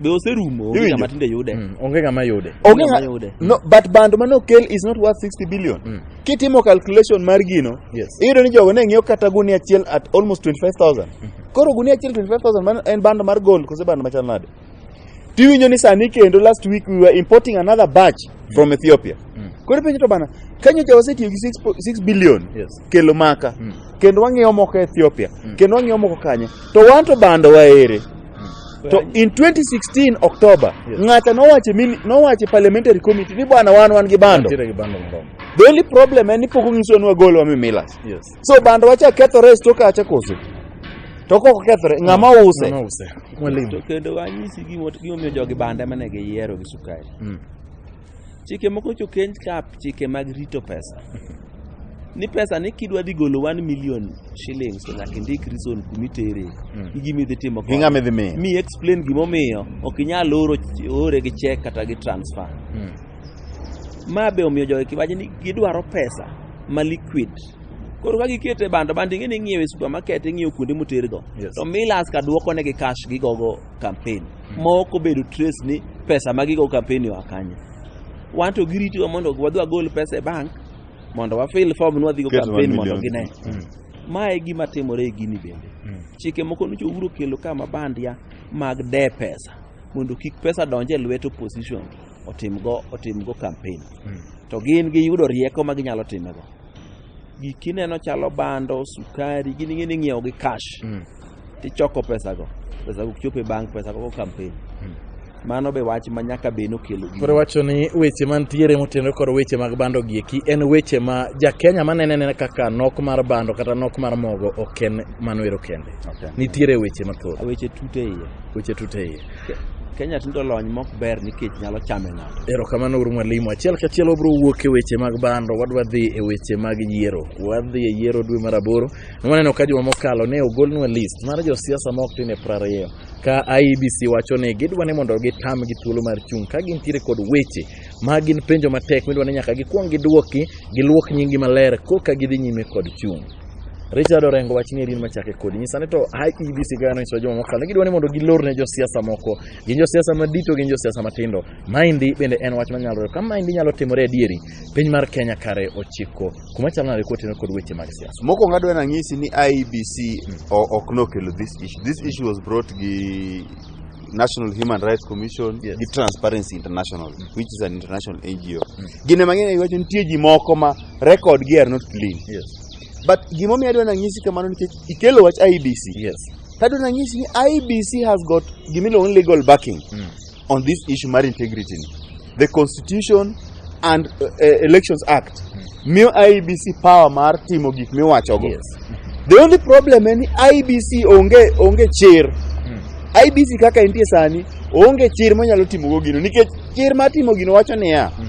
S3: Be oserumo
S2: onge ng'ama tinde yude. Mm. Onge ng'ama yude.
S1: Onge ng'ama yude. No,
S3: but bando mane okel is not worth 60 billion. Mm. Kitimo calculation mar gino, yes. iyudo ni jogo ne ng'iewo kata gunia achiel at almost 25,000. Mm -hmm. Koro gunia achiel 25,000 en bando mar gold kose bando machal nade? to iwinjo ni sani kendo last week we were importing another batch from Ethiopia Mm. koro penjo to bana kanyo ja wasetiyo gi 6 po- 6 billion Yes. kelo maka Mm. kendo wang'iewo moko Ethiopia Mm. kendo wang'iewo moko kanye to wan to bando waere to in 2016 October Yes. ng'ata nowache mini- nowache parliamentary committee ni bwana wan wan gi bando Nitiere gi bando moromo. the only problem en ni pok onyiso ni wagol wa mimilas Yes. So bando wacha kethore e sto kacha koso. To kok okethore ng'ama use. Mama use. Mwalimu. To
S2: kendo wanyisi gimo- gimomiyo jogi banda ema ne giyiero gi sukari. Mm. Chike moko nyocha okenj ka chike mag rito pesa. Ni pesa ni kidwa dhi golo 1 million shillings to nyaka indik reason kuma itere Mm. gi gima idhi timo Gi kode. ng'ama idhi miyo. Mi
S3: explain gimomiyo
S2: ok inyal oro ore gi check kata gi transfer. Mm. Ma be omiyo jogi kibaji ni gidwaro pesa ma liquid. Koro ka giketo e bando, bando ing'e ni ing'iewo e supermarket, ing'iewo kuonde motergo. Yes. To Millers ka dwoko negi cash gigogo campaign. Ma ok obedo trace ni pesa ma gigo campaign oa kanye. Wan to giritowa mondo wadhi wagol pesa e bank mondo wa fill form ni wadhigo Ket one campaign mondo million. gine. Ma e gima timore e gini bende. Chike moko nyocha Uhuru okelo ka mabandia mag de pesa mondo kik pesa donj e lwet opposition. otimgo otimgo kampen to gin giyudo rieko ma ginyalo timego giki neno chalo bando sukari gin ing'e ni ing'iewo gi cash tichoko pesago pesago ok chop e bank pesago go kampen mano be wach ma nyaka be nokelo gino. Koro wacho ni weche
S1: mantiere motenore kod weche mag bando gieki en weche ma jakenya manene nene kaka nok mar bando kata nok mar mogo ok en mano ero kende nitiere weche mathoth Weche tute iye.
S2: weche tute iye Kenya tindo lony mok ber nikech nyalo chame ng'ato. Erokamano uru mwalimu.
S1: Achiel kachiel wabiro wuok e weche mag bando, wadwa dhi e weche mag yiero. Wadhi e yiero dwe mar aboro. Nwaneno ka juma mokalo ne ogolnwa list mar josiasa ma ok tin e prariyo ka IEBC wacho ni gidwa ni mondo gitam gi thuolo mar chung' ka gintiere kod weche ma gin penjo matek midwa ni nyaka gikwong gidwoki, giluok nyingi maler koka gidhi nyime kod chung'. Richard Orengo wach ni erin machake kodi nyisa ni to IEBC ga no isojo mokalo ne gidwa ni mondo gilor ne josiasa moko gin josiasa madito gin josiasa matindo maendi bende en wach manyalore kama maendi nyalo timore adieri piny mar Kenya kare ochiko kuma chalo nade kotene kod weche mag siasa Mokwongo adwa nang'isi ni
S3: IEBC o- ok nokelo this issue. This issue was brought gi National Human Rights Commission Yes. gi Transparency International which is an international NGO. Gine mang'eny iwacho nitie ji moko ma record gi are not clean Yes. but gimomiyo adwa nanyisi kamano nikech ikelo wach IBC Yes. tadwa nanyisi ni IBC has got gimiluongo ni legal backing Mm. on this issue mar integrity ni the constitution and uh, uh, elections act miyo IBC power mar timo gik miwachogo Yes. the only problem en ni IBC onge onge chir Mm. IBC kaka entie sani onge chir monyalo timogo gino nikech chir mar timo gino wacho niya Mm.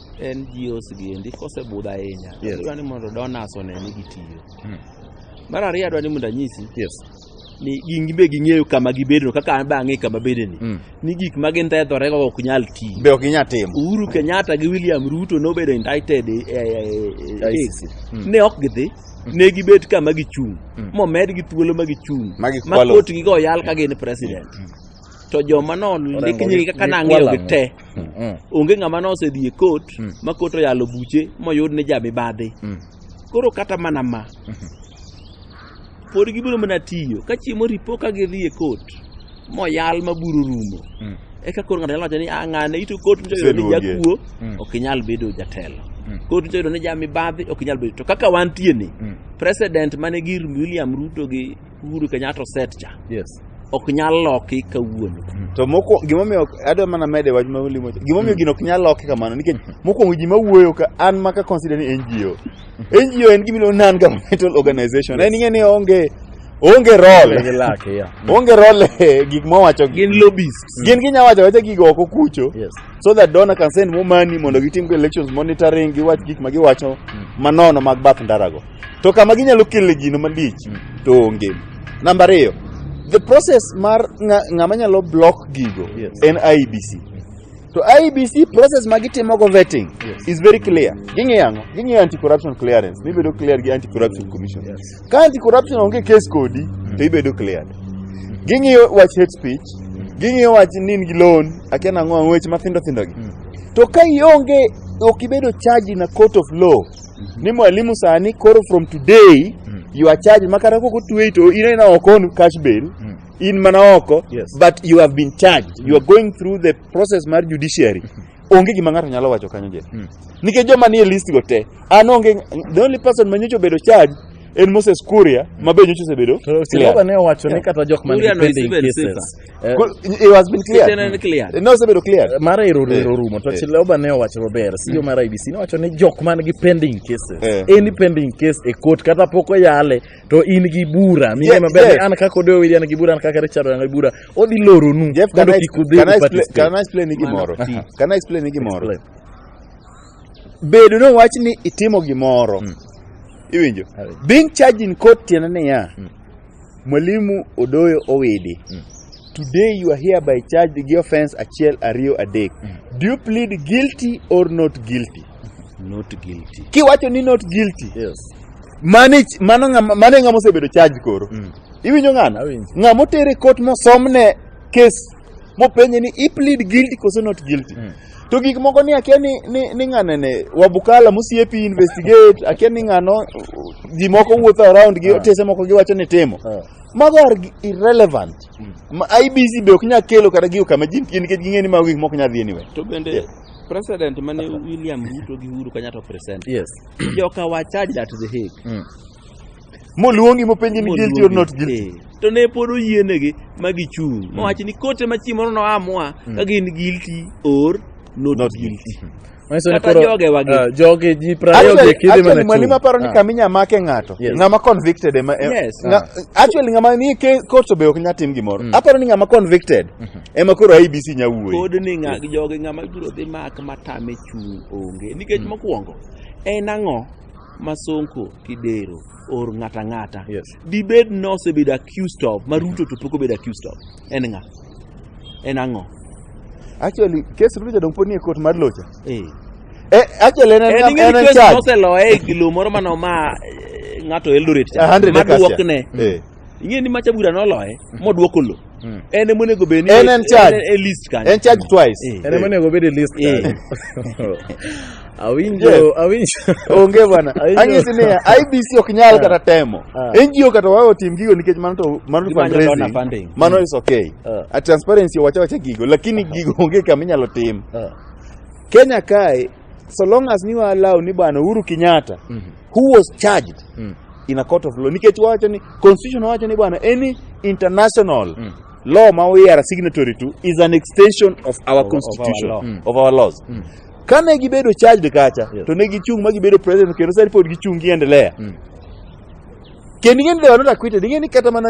S2: NGOs giendi kosebudho ahinya Yes. adwa ni mondo donors one ni gitiyo Hmm. mar ariyo adwa ni mondo anyisi Yes. ni gin be ging'eyo kama gibedo kaka an be ang'e kama bedeni Mm. ni gik ma gintethorego ok nyal tiyo Be ok inyal timo. Uhuru
S3: Kenyatta gi
S2: William Ruto nobedo indicted e- e- e- e- ICC. Mm. ne ok gidhi ne gibet kama gichung' Mm. momed gi thuolo ma gichung' Ma gikwalo. kotgi go yal ka gin president to joma no ndik Orengo nyingi gi- kaka nang'eyo gikwalo gi te mm. mm. onge ng'ama ne osedhi e kot mm. ma kot oyalo buche moyud ni jamibadhi mm. koro kata mana ma mm-hmm. pod gibiro mana tiyo ka chiemo ripo ka gidhi e kot moyal ma buru rumo mm. eka koro ng'ato nyalo wacho ni ah, ng'ane ito kot nyicha yudo ni jakuo mm. ok inyal bedo jatelo mm. kot nyicha yudo ni jamibadhi ok inyal bedo to kaka wantie ni mm. president mane gir william ruto gi Uhuru Kenyatta oset cha Yes. ok nyal loki kawuono. To mokwongo
S3: gimomiyo adwa mana mede wach ma ulimo. Gimomiyo gino ok nyal loki kamano nikech mokwongo ji mawuoyo ka an ma ka consider ni NGO. NGO en gima iluongo non governmental organization. En ing'e ni onge onge role. Gi lake, yeah. Onge role e gik mowacho gi. Gin lobbyists.
S2: Gin ginya wacho wacha gigo
S3: oko kucho. Yes. so that donor can send more money mondo gitim go elections monitoring giwach gik ma giwacho manono mag bath ndarago to kama ginyalo kele gino malich to onge namba ariyo the process mar ng'a- ng'ama nyalo block gigo Yes. en IBC to IBC process ma gitimogo vetting Yes. is very clear ging'iyo ang'o ging'iyo anti corruption clearance mibedo clear gi anti corruption commission Yes. ka anti corruption onge case kodi to ibedo cleared ging'iyo wach hate speech ging'iyo wach nin gi loan akia nang'o ang'o weche mathindo thindo gi to ka ionge ok ibedo charged in a court of law ni mwalimu sani koro from today Mm. you are charged makata koko tueyi to in ina oko on cash bail Mm. in mana oko Yes. but you have been charged you are going through the process mar judiciary onge gima ng'ato nyalo wacho kanyo je Mm. nikech joma nie list go te an onge the only person ma nyocha obedo charge en Moses Kuria ma be nyocha osebedo Siraba ne owacho
S1: ni kata jok man Kuria no is depending even cases safer. Eh, Cool, it has
S3: been cleared. Kitchen and cleared. Eh, No, osebedo cleared. mara ero Eh, ero rumo
S1: to eh. chiloba ne owacho maber CEO mar IBC ne owacho ni jok man gi pending cases Eh. any pending case e court kata pok oyale to in gi bura mine Yes, maber yes. ni an kaka Odeyo William gi bura an kaka Richard Oyanga gi bura odhi loronu Jeff, can mondo I, kik udhi can I explain,
S3: uparticipate. can I explain ni gimoro? Mano, ti. Can I explain ni gimoro? Explain. Bedo ni wach ni itimo gimoro. Mm. Iwinjo? Being charged in court tiende niya, Mm. Mwalimu Odoyo Owidi, Mm. today you are here by charge gi offense achiel ariyo adek. Do you plead guilty or not guilty? Not
S2: guilty. Kiwacho ni not
S3: guilty, Yes.
S1: mano ich-
S3: mano ng'ama- mano e ng'ama osebedo charge koro. Mm. Iwinjo ng'ano? Awinjo. Ng'ama otere kot mosomne case mopenje ni i plead guilty koso not guilty. Mm. to gik moko ni akia ni, ni, ni ng'ane ne wabukala mosiepi investigate akia ni ng'ano ji moko wuotho around gi otese moko giwacho ni timo Eh. mago are gi- irrelevant Ma- IBC be ok nyal kelo kata gigo kama ji nitie nikech ging'e ni mago gik mok nyal dhi anywhere to bende Yeah.
S2: president mane William Ruto gi Uhuru Kenyatta present yes joka
S1: wachaj
S2: at the Hague mm.
S3: moluongi mopenji ni guilty or not guilty to ne pod
S2: oyienegi ma gichung' hmm. mowacho ni kote ma chieng' moro noamua hmm. ka gin guilty or not, not guilty hmm. ah, joge
S1: ji prayogekidhimani maparo ni ah. kama inya
S3: make ng'ato ng'ama convicted ema e- ah. actually ng'ama ni court obe ok nya tim gimoro aparo ni ng'ama convicted mhm. ema koro abc nya wuoyi pod ni joge
S2: ng'ama ibiro dhi mak matame chung' onge nikech mokwongo en ang'o Masonko Kidero or ng'ata ng'ata yes. dibed ni osebedo accused of ma Ruto to pok obedo accused of en ng'a en ang'o actually
S3: kes Ruto jadong pod nie court mar locha eh eh actually en en en en charge oseloye e gilo
S2: moro mano ma eh, ng'ato Eldoret cha maduokne eh ing'e ni macha bura noloye modwoko lo Mm. en ema onego bed ni En en charge. en- en list
S3: kanyo En charge
S2: twice. Eh. En
S3: ema onego obed e
S1: list Eh. kanyo. Awinjo, Yes. awinjo. Onge
S3: bwana. Aiyo. Anyisi ni IBC ok nyal kata temo. Ah. NGO kata wawe otim gigo nikech mano to mano Gimanyo donor fundraising. funding. Mano is okay. Ah. A transparency wacha wacha gigo lakini gigo onge kama inyalo tim. Ah. Kenya kae so long as ni allow ni bwana Uhuru Kenyatta Mhm. who was charged Mm. in a court of law nikech wacho ni constitution wacho ni bwana any international Mm. law ma we are signatory to is an extension of our our constitution law. Mm. of our laws Mm. kane gibedo charged kacha Yes. to ne gichung' ma gibedo president kendo sani pod gichung' giendelea Mm. Kendo ing'e ni they were not acquitted. Ing'e ni kata mana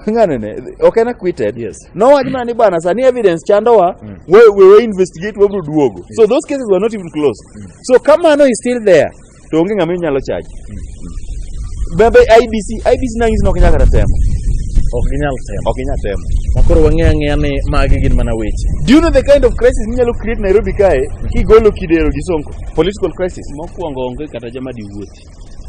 S3: ng'ano ne ok en acquitted. Yes. Nowach mana ni bwana sani evidence chandowa mm. we, we, we investigate wabro duogo. Yes. So those cases were not even closed. Mm. So kamano is still there. To onge ng'ama inyalo charge. Mm. Bebe IBC, IBC nang'isi ni ok nyaka temo. Ok ginyal
S1: temo. Ok ginyal temo. Makoro wang'e ang'eya
S3: ni magi
S1: gin mana weche. Do you know the kind of
S3: crisis minyalo create Nairobi kae kigolo kidero gi Sonko? Political crisis. Mokwongo onge kata
S2: jama diwuothi.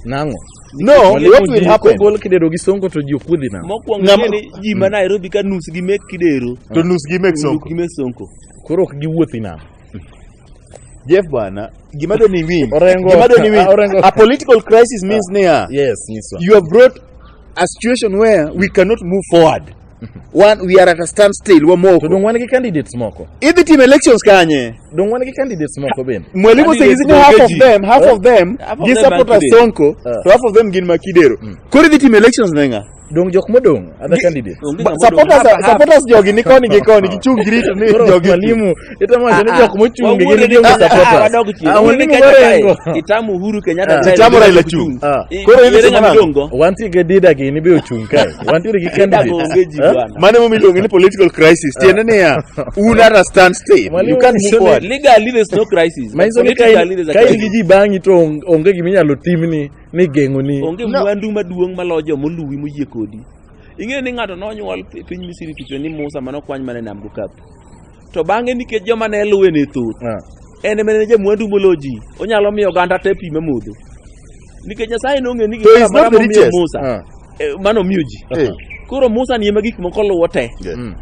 S2: Nang'o?
S1: No, what Mwalimu
S3: will ji happen? kogol kidero gi songo to
S1: ji ok wuodhi nam. mokwongo Ng'ama- ing'e ni ji
S2: ma nairobi ka nus gi mek kidero To nus gi mek nus sonko.
S3: gi mek sonko
S2: Koro ok giwuothi
S1: nam.
S3: Jeff bwana, gima doni win. Orengo- Gima doni win. Orengo- A political crisis
S1: means
S3: niya, Yes, nyiswa. you have brought a situation where we cannot move forward. wan we are at a standstill To wamoko donge wan gi
S1: candidates moko? idhi timo elections
S3: kanye Donge wan gi candidates
S1: moko bende? mwalimu Candidates sengizini half of
S3: Dogeji. them half of them Half of gi them support Makideo. sonko Eh. to half of them gin makidero koro idhi timo elections ne ng'a Donge jok modong'
S1: other candidates? Onge Ba- ng'ama odong'. supporters Half- half. supporters
S3: jogi ni koni gi koni gichung' girito ni Koro jogi mwalimu Ita ma
S1: jana jok mochung' gi gin joma sapota. Wadog chien. Ah, wani Kenya mugore kae,
S2: engo. Itam Uhuru Kenyatta. Ah. kae, Itam Raila Raila chung'.
S3: Ah. I- Koro in Yere isomo nang'o?
S2: nyamidongo. Wantie gi dida gi
S1: in ibe ochung' kae. Wantiere gi Dida onge candidate. ji Eh? bwana. Mane mumi iluongo
S3: ni political crisis. Tiende niya, un at a standstill. Mwalimu You can't move Mishoni- forward. Legally there's no crisis.
S2: but Manyiso ni ka in- politically there's a ka
S1: in crisis. gi ji bang'i to on- onge gima inyalo timni ni geng'oni. onge mwandu maduong'
S2: maloyo joma oluwi moyie kodi ing'eyo ni ng'ato nonyuol pi- piny misiri kicho ni musa manokwany mana e nam gokapu to bang'e nikech joma ne luwe ne thoth ah. en ema ne jamwandu molo ji onyalo miyo oganda te pi me modho nikech nyasaye nong'e ni gimoro momiyo musa ah. eh, mano miyo ji eh. koro musa ni ema gik moko luwo te mm.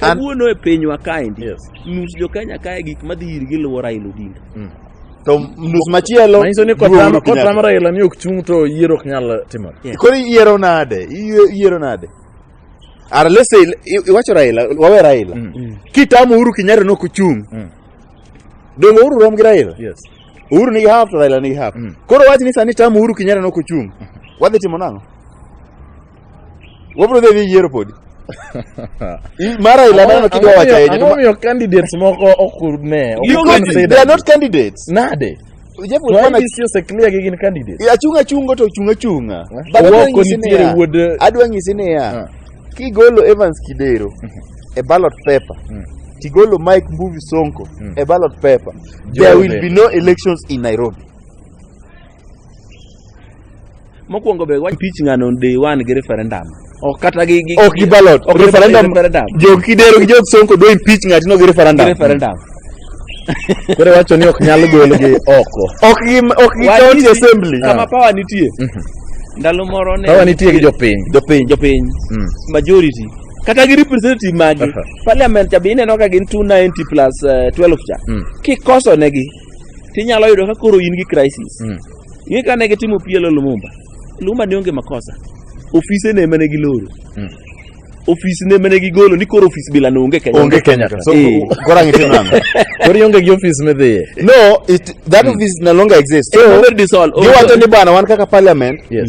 S2: kawuono e pinywa kaendi nus jo kenya kae gik madhi irgi luwo raila odinga mm. to
S3: nus machielo manyiso ni kotama
S1: raila ni ok chung' to yiero ok nyal timore koro iyiero nade
S3: iyiero nade Ara let's say i- iwacho Raila, wawe Raila. Kitamo Uhuru Kenyatta no kuchung. Dongo Uhuru rom gi Raila. Yes. Uhuru nigi half to Raila nigi half. Koro wach ni sani tamo Uhuru Kenyatta no kuchung. Wadhi timo nang'o? Wabro dhi dhi yiero podi. I- Mar Raila mano kidwa wacho ahinya. to ma- Ang'omiyo candidates
S1: moko ok ne. ok Because consider. they are not
S3: candidates. Nade?
S1: Jeff To Wekwana
S3: IBC ose clear
S1: gi gin candidates. E, achung' achungo to ochung'
S3: achung'a Eh. But adwa Owoko nyisi nitiere niya- wuod,
S1: eh, adwa nyisi niya Ah.
S3: kigolo Evans Kidero e ballot paper Mm. tigolo Mike Mbuvi Sonko Mm. e ballot paper Joe there will Biden. be no elections in Nairobi
S2: mokwongo be wach pitch ng'ano day one gi referendum ok kata gi gi ok gi ballot ok referendum
S3: referendum jok kidero gi jok sonko do impeach ng'ati no gi referendum gi referendum
S1: kore wacho ni ok nyal gol gi oko ok gi ok gi
S3: county assembly kama ah. power nitie mhm.
S2: ndalo moro ne power nitie gi jopiny
S1: jopiny jopiny mm. majority
S2: kata gi representative magi parliament cha be ineno ka gin 290 plus uh, eh, 12 cha mm. kikoso negi tinyalo yudo ka koro in gi crisis Mm. ing'e ka ne gitimo pielo lumumba lumumba ne onge makosa ofise ne mane giloro Mm. ofis ne mane gigolo ni koro ofis bila ne onge kenya onge kenya ka so Eh. koro
S3: ang' itimo ang'o koro ionge gi ofis
S1: midhiye no it,
S3: that office no longer exists It's so already dissolved. giwacho ni bwana wan kaka parliament Yes.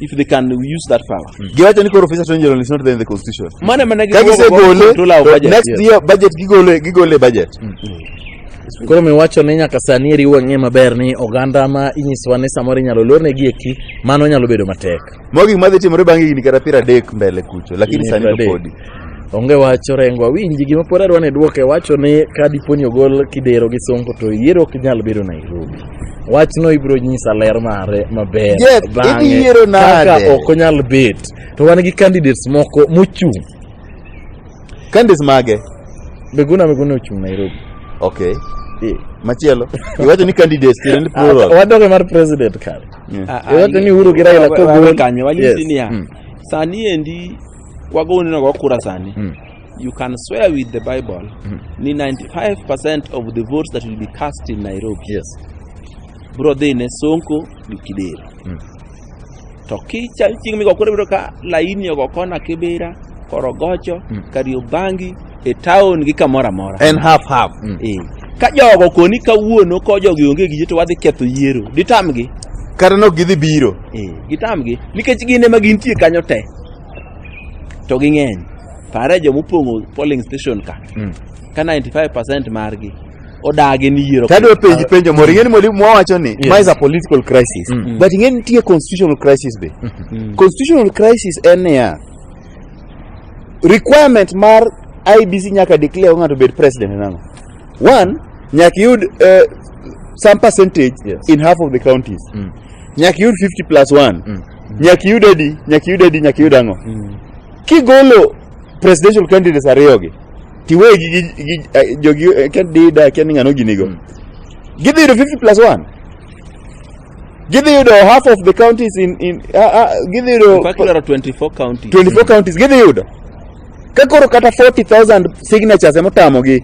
S2: if they can use that power mm. giwacho ni koro officer attorney general
S3: is not there in the constitution mane mana ka
S2: gisegole to
S3: next year budget gigole gigole budget mm.
S1: mm. koro miwacho ni nyaka sani eriwo ang'e maber ni oganda ma inyisowa ni samoro inyalo lorne gi eki mano nyalo bedo matek mogik madhi timore
S3: bang' higni kata piero adek mbele kucho lakini sani to podi Onge wach
S1: orengo awinji gima pod adwa ni dwoke wacho ni ka dipo ni ogol Kidero gi Sonko to yiero ok nyal bedo Nairobi. Wachno ibiro nyisa ler mare maber Jeff, bang'e idhi yiero
S3: nade? kaka ok
S1: onyal bet to wan gi candidates moko mochung'
S3: Candidates mage? Miguna
S1: Miguna ochung' Nairobi. Okay.
S3: Eh. Machielo. Iwacho ni candidates tiende ni plural. Wadoge mar president
S1: kare. Yeah. Ah, ah, Iwacho ni Uhuru gi Raila wa- wa- kogol. wawe kanyo wanyisi Yes. niya Mm.
S2: sani endi Kwago uneno go kura sani. Mm. You can swear with the Bible mm. ni 95% of the votes that will be cast in Nairobi. Yes.
S1: Bro
S2: dhi ne Sonko gi Kidero. Mm. To kicha chieng' migo kura biro ka laini ogo kona Kibera, Korogocho, mm. Kariobangi, e town gi kamora mora. En half half. Mm.
S3: E. Ka
S2: jogo koni kawuono ko jogi onge gi to wadhi ketho yiero. Ditamgi. Kata nok gidhi
S3: biro. E. Gitamgi.
S2: Nikech gin ema gintie kanyo te. to ging'eny pare joma opong'o polling station ka Mm. ka 95 margi odagi ni yiero Tadwa penji penjo moro
S3: ing'eni mwalimu mwawacho ni Yes. ma is a political crisis Mm. but ing'eni nitie constitutional crisis be Mm. constitutional crisis en niya requirement mar IBC nyaka declare ng'ato obed president en ang'o one nyaka iyud eh, some percentage Yes. in half of the counties Mm. nyaka iyud 50 plus 1 Mm. nyaka iyud adi nyaka iyud adi nyaka iyud ang'o kigolo presidential candidates ariyogi tiwegi gi, gi, gi eh, jogi eh, ken dida ken ng'ano ginigo gidhi yudo 50 plus 1 gidhi yudo half of the counties in, in uh, uh, gidhi yudo Mpaka idwaro 24
S2: county 24 counties gidhi yudo
S3: Ka koro kata 40,000 signatures ema otamogi,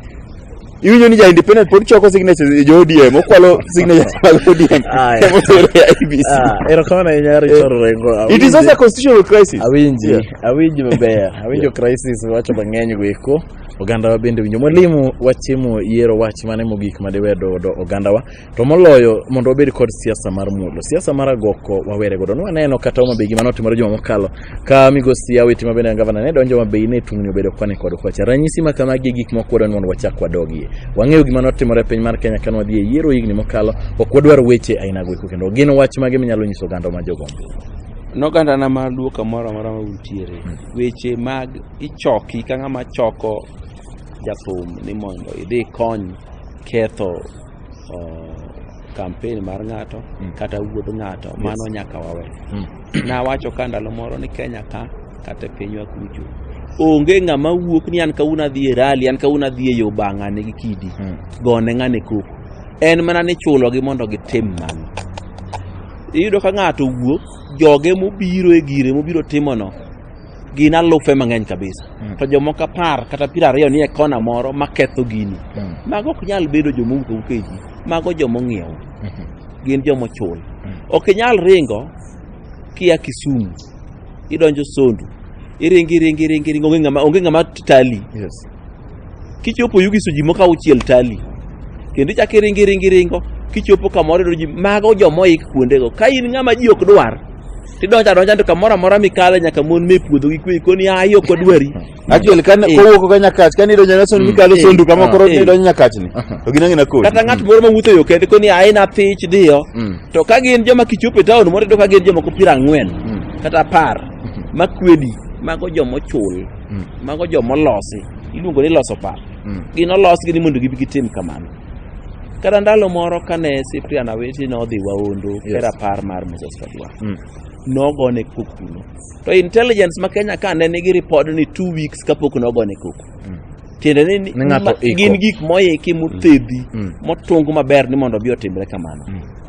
S3: iwinjo ni ja independent pod choko signatures e jo ODM, okwalo signatures mag ODM. Aya. Ema otero e IEBC. Ah, erokamano ahinya Eh, Richard Orengo. It is also a constitutional crisis. awinji Yeah. awinji
S1: maber awinjo crisis wacho mang'eny go eko ogandawa bende winjo mwalimu wachimo yiero wach mane mogik madiwedo ogandawa to moloyo mondo wabed kod siasa mar mulo siasa mar agoko wawere godo nwaneno kata Homa Bay gima notimore juma mokalo ka migosi Awiti ma bende en gavana ne donjo Homa Bay ne tungni obedo kwane kod kwacha ranyisi ma kamagi e gik moko wadwani mondo wachak wadogie wang'eyo gima notimore e piny mar Kenya kane wadhi e yiero higni mokalo ok wadwar weche ainago eko kendo gin wach mage minyalo nyiso oganda ma jogombo noganda na
S2: mar luo kamoro amora ma untiere hmm. weche mag ichoki ka ng'ama choko jathum ni mondo idhi kony ketho kampen mar ng'ato Mm. kata wuod ng'ato mano nyaka wawe Mm. nawacho ka ndalo moro ni kenya ka kata e pinywa kucho onge ng'ama wuok ni an kawuono adhi e rali an kawuono adhi e yo bang'ane gi kidi Mm. gone ng'ane koko en mana ni chulogi mondo gitim mano iyudo ka ng'ato wuok joge mobiro e gire mobiro timono gin alufe mang'eny kabisa mm. to jomoko apar kata piero ariyo nie kona moro maketho gini mm. mago ok nyal bedo jomowuok awuok e ji mago jomong'iew mm -hmm. gin jomochul mm. ok inyal ringo kia kisumu idonjo sondu iringi iringi iringi iringi onge ng'ama onge ng'ama tali yes. Kichopo Yugiso ji moko auchiel tali, kendo ichako iringo iringo iringo, kichopo kamoro iyudo ji mago joma oik kuondego. Ka in ng'ama ji ok dwar, tidonjo adonja to kamoro amora mikale nyaka mon me puodho gi kwe koni ayi ok odwari. Actually kan Eh.
S3: kowuok ka nyakach kan idonjo na sondu Eh. mikalo Eh. sondu kama koro Eh. idonjo nyakach ni. To gina ngina kodi. Kata ng'at moro mawuotho e yo
S2: kende koni ayi na thich diyo. Mm. To ka gin joma kichopo e taon moro iyudo ka gin jomoko piero ang'wen kata apar makwedi mago joma ochul. Mm. Mago jo molosi, iluongo ni loso paro. Mm. Gin olosgi ni mondo gibi gitim kamano. Kata ndalo moro kane Cyprian Awiti nodhi Waondo yes. e rapar mar Moses Kajwa. Mm. Nogone kok kuno. To intelligence ma Kenya ka ne nigi ripod ni two weeks kapok nogone kok. Mm. Tiende ni, ni, ni gin gik moiki mothedhi mm. mm. motung maber ni mondo obi otimre kamano. Mm.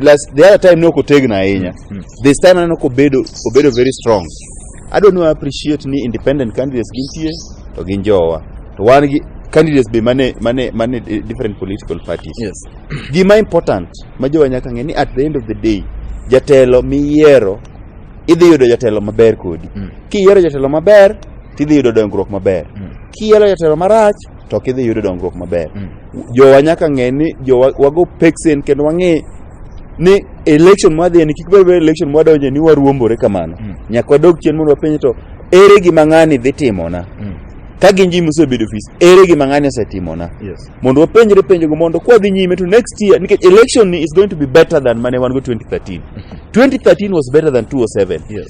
S3: Last, the other time ne ok otegna ahinya Mm. this time aneno kobedo obedo very strong adwa ni wa appreciate ni independent candidates gintie to gin jowa to wan gi candidates be mane mane mane eh, different political parties Yes. gima important ma jowa nyaka ng'e ni at the end of the day jatelo miyiero idhi yudo jatelo maber kodi Mm. kiyiero jatelo maber tidhi yudo dongruok maber Mm. kiyiero jatelo marach to ok idhi yudo dongruok maber mm. jowa nyaka ng'e ni jowa wago peksen kendo wang'e ni election mwadhi ni kik bed election mwadonje ni waruombore kamano mm. nyaka wadog chien mondo wapenje to ere gima ng'ani dhi timona mm. ka gin ji mosebedo ofis ere gima ng'ani osetimona yes. mondo wapenjre penjogo mondo kwadhi nyime to next year nikech election ni is going to be better than mane wan go 2013 2013 was better than 207 yes.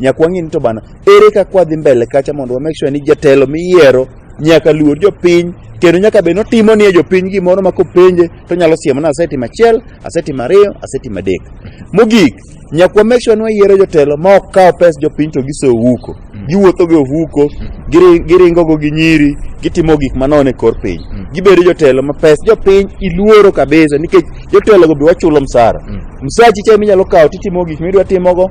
S3: nyaka wang'e ni to bana ere kaka wadhi mbele kacha mondo wa make sure ni jatelo miyiero nyaka luor jopiny kendo nyaka bed notimo ni jopiny gimoro ma kopenje to nyalo siemo ni asetimo achiel asetimo ariyo asetimo adek mogik nyaka wa make sure ni wayiero jotelo ma ok kaw pes jopiny to giso ohuko giwuotho gi ohuko giri- giringogo gi nyiri gitimo gik manono e kor piny gibedo jotelo ma pes jopiny iluoro kabisa nikech jotelogo be wachulo msara msachi cha minyalo kawo titimo gik midwa timogo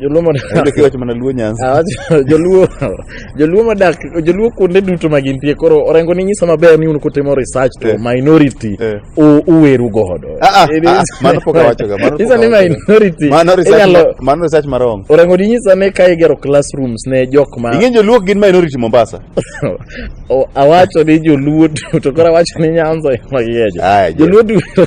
S3: Joluo modak Ayudo kiwacho mana luo nyanza. Ah, wacho- joluo joluo modak joluo kuonde duto ma gintie koro orengo ni nyiso maber ni un kutimo research to Eh. minority Eh. u- uweru godo Ah, ah, It ah, is- mano
S2: pok awachoga, mano pok Nyisa ni awachoga. minority Mano research inyalo
S3: ma- mano research marong. orengo ni nyisa ni ka
S1: igero classrooms ne jok ma Ing'e joluo gin minority
S3: Mombasa. O-
S1: awacho ni joluo duto to koro awacho ni nyanza ema giejo Aya, je. joluo duto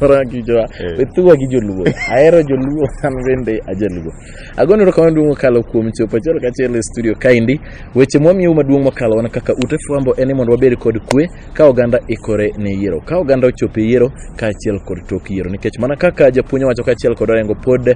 S1: ora kijoa Eh. wethuwa gi joluo ahero joluo an bende ajaluo agono erokamano maduong' mokalo kuom chopo achiel kachiel e studio kaendi weche mwamiyou maduong' mokalo wana kaka ute fwambo en ni mondo wabed kod kwe ka oganda ikore ne yiero ka oganda ochopo e yiero kaachiel kod tok yiero nikech mana kaka japuonj owacho kaachiel kod orengo pod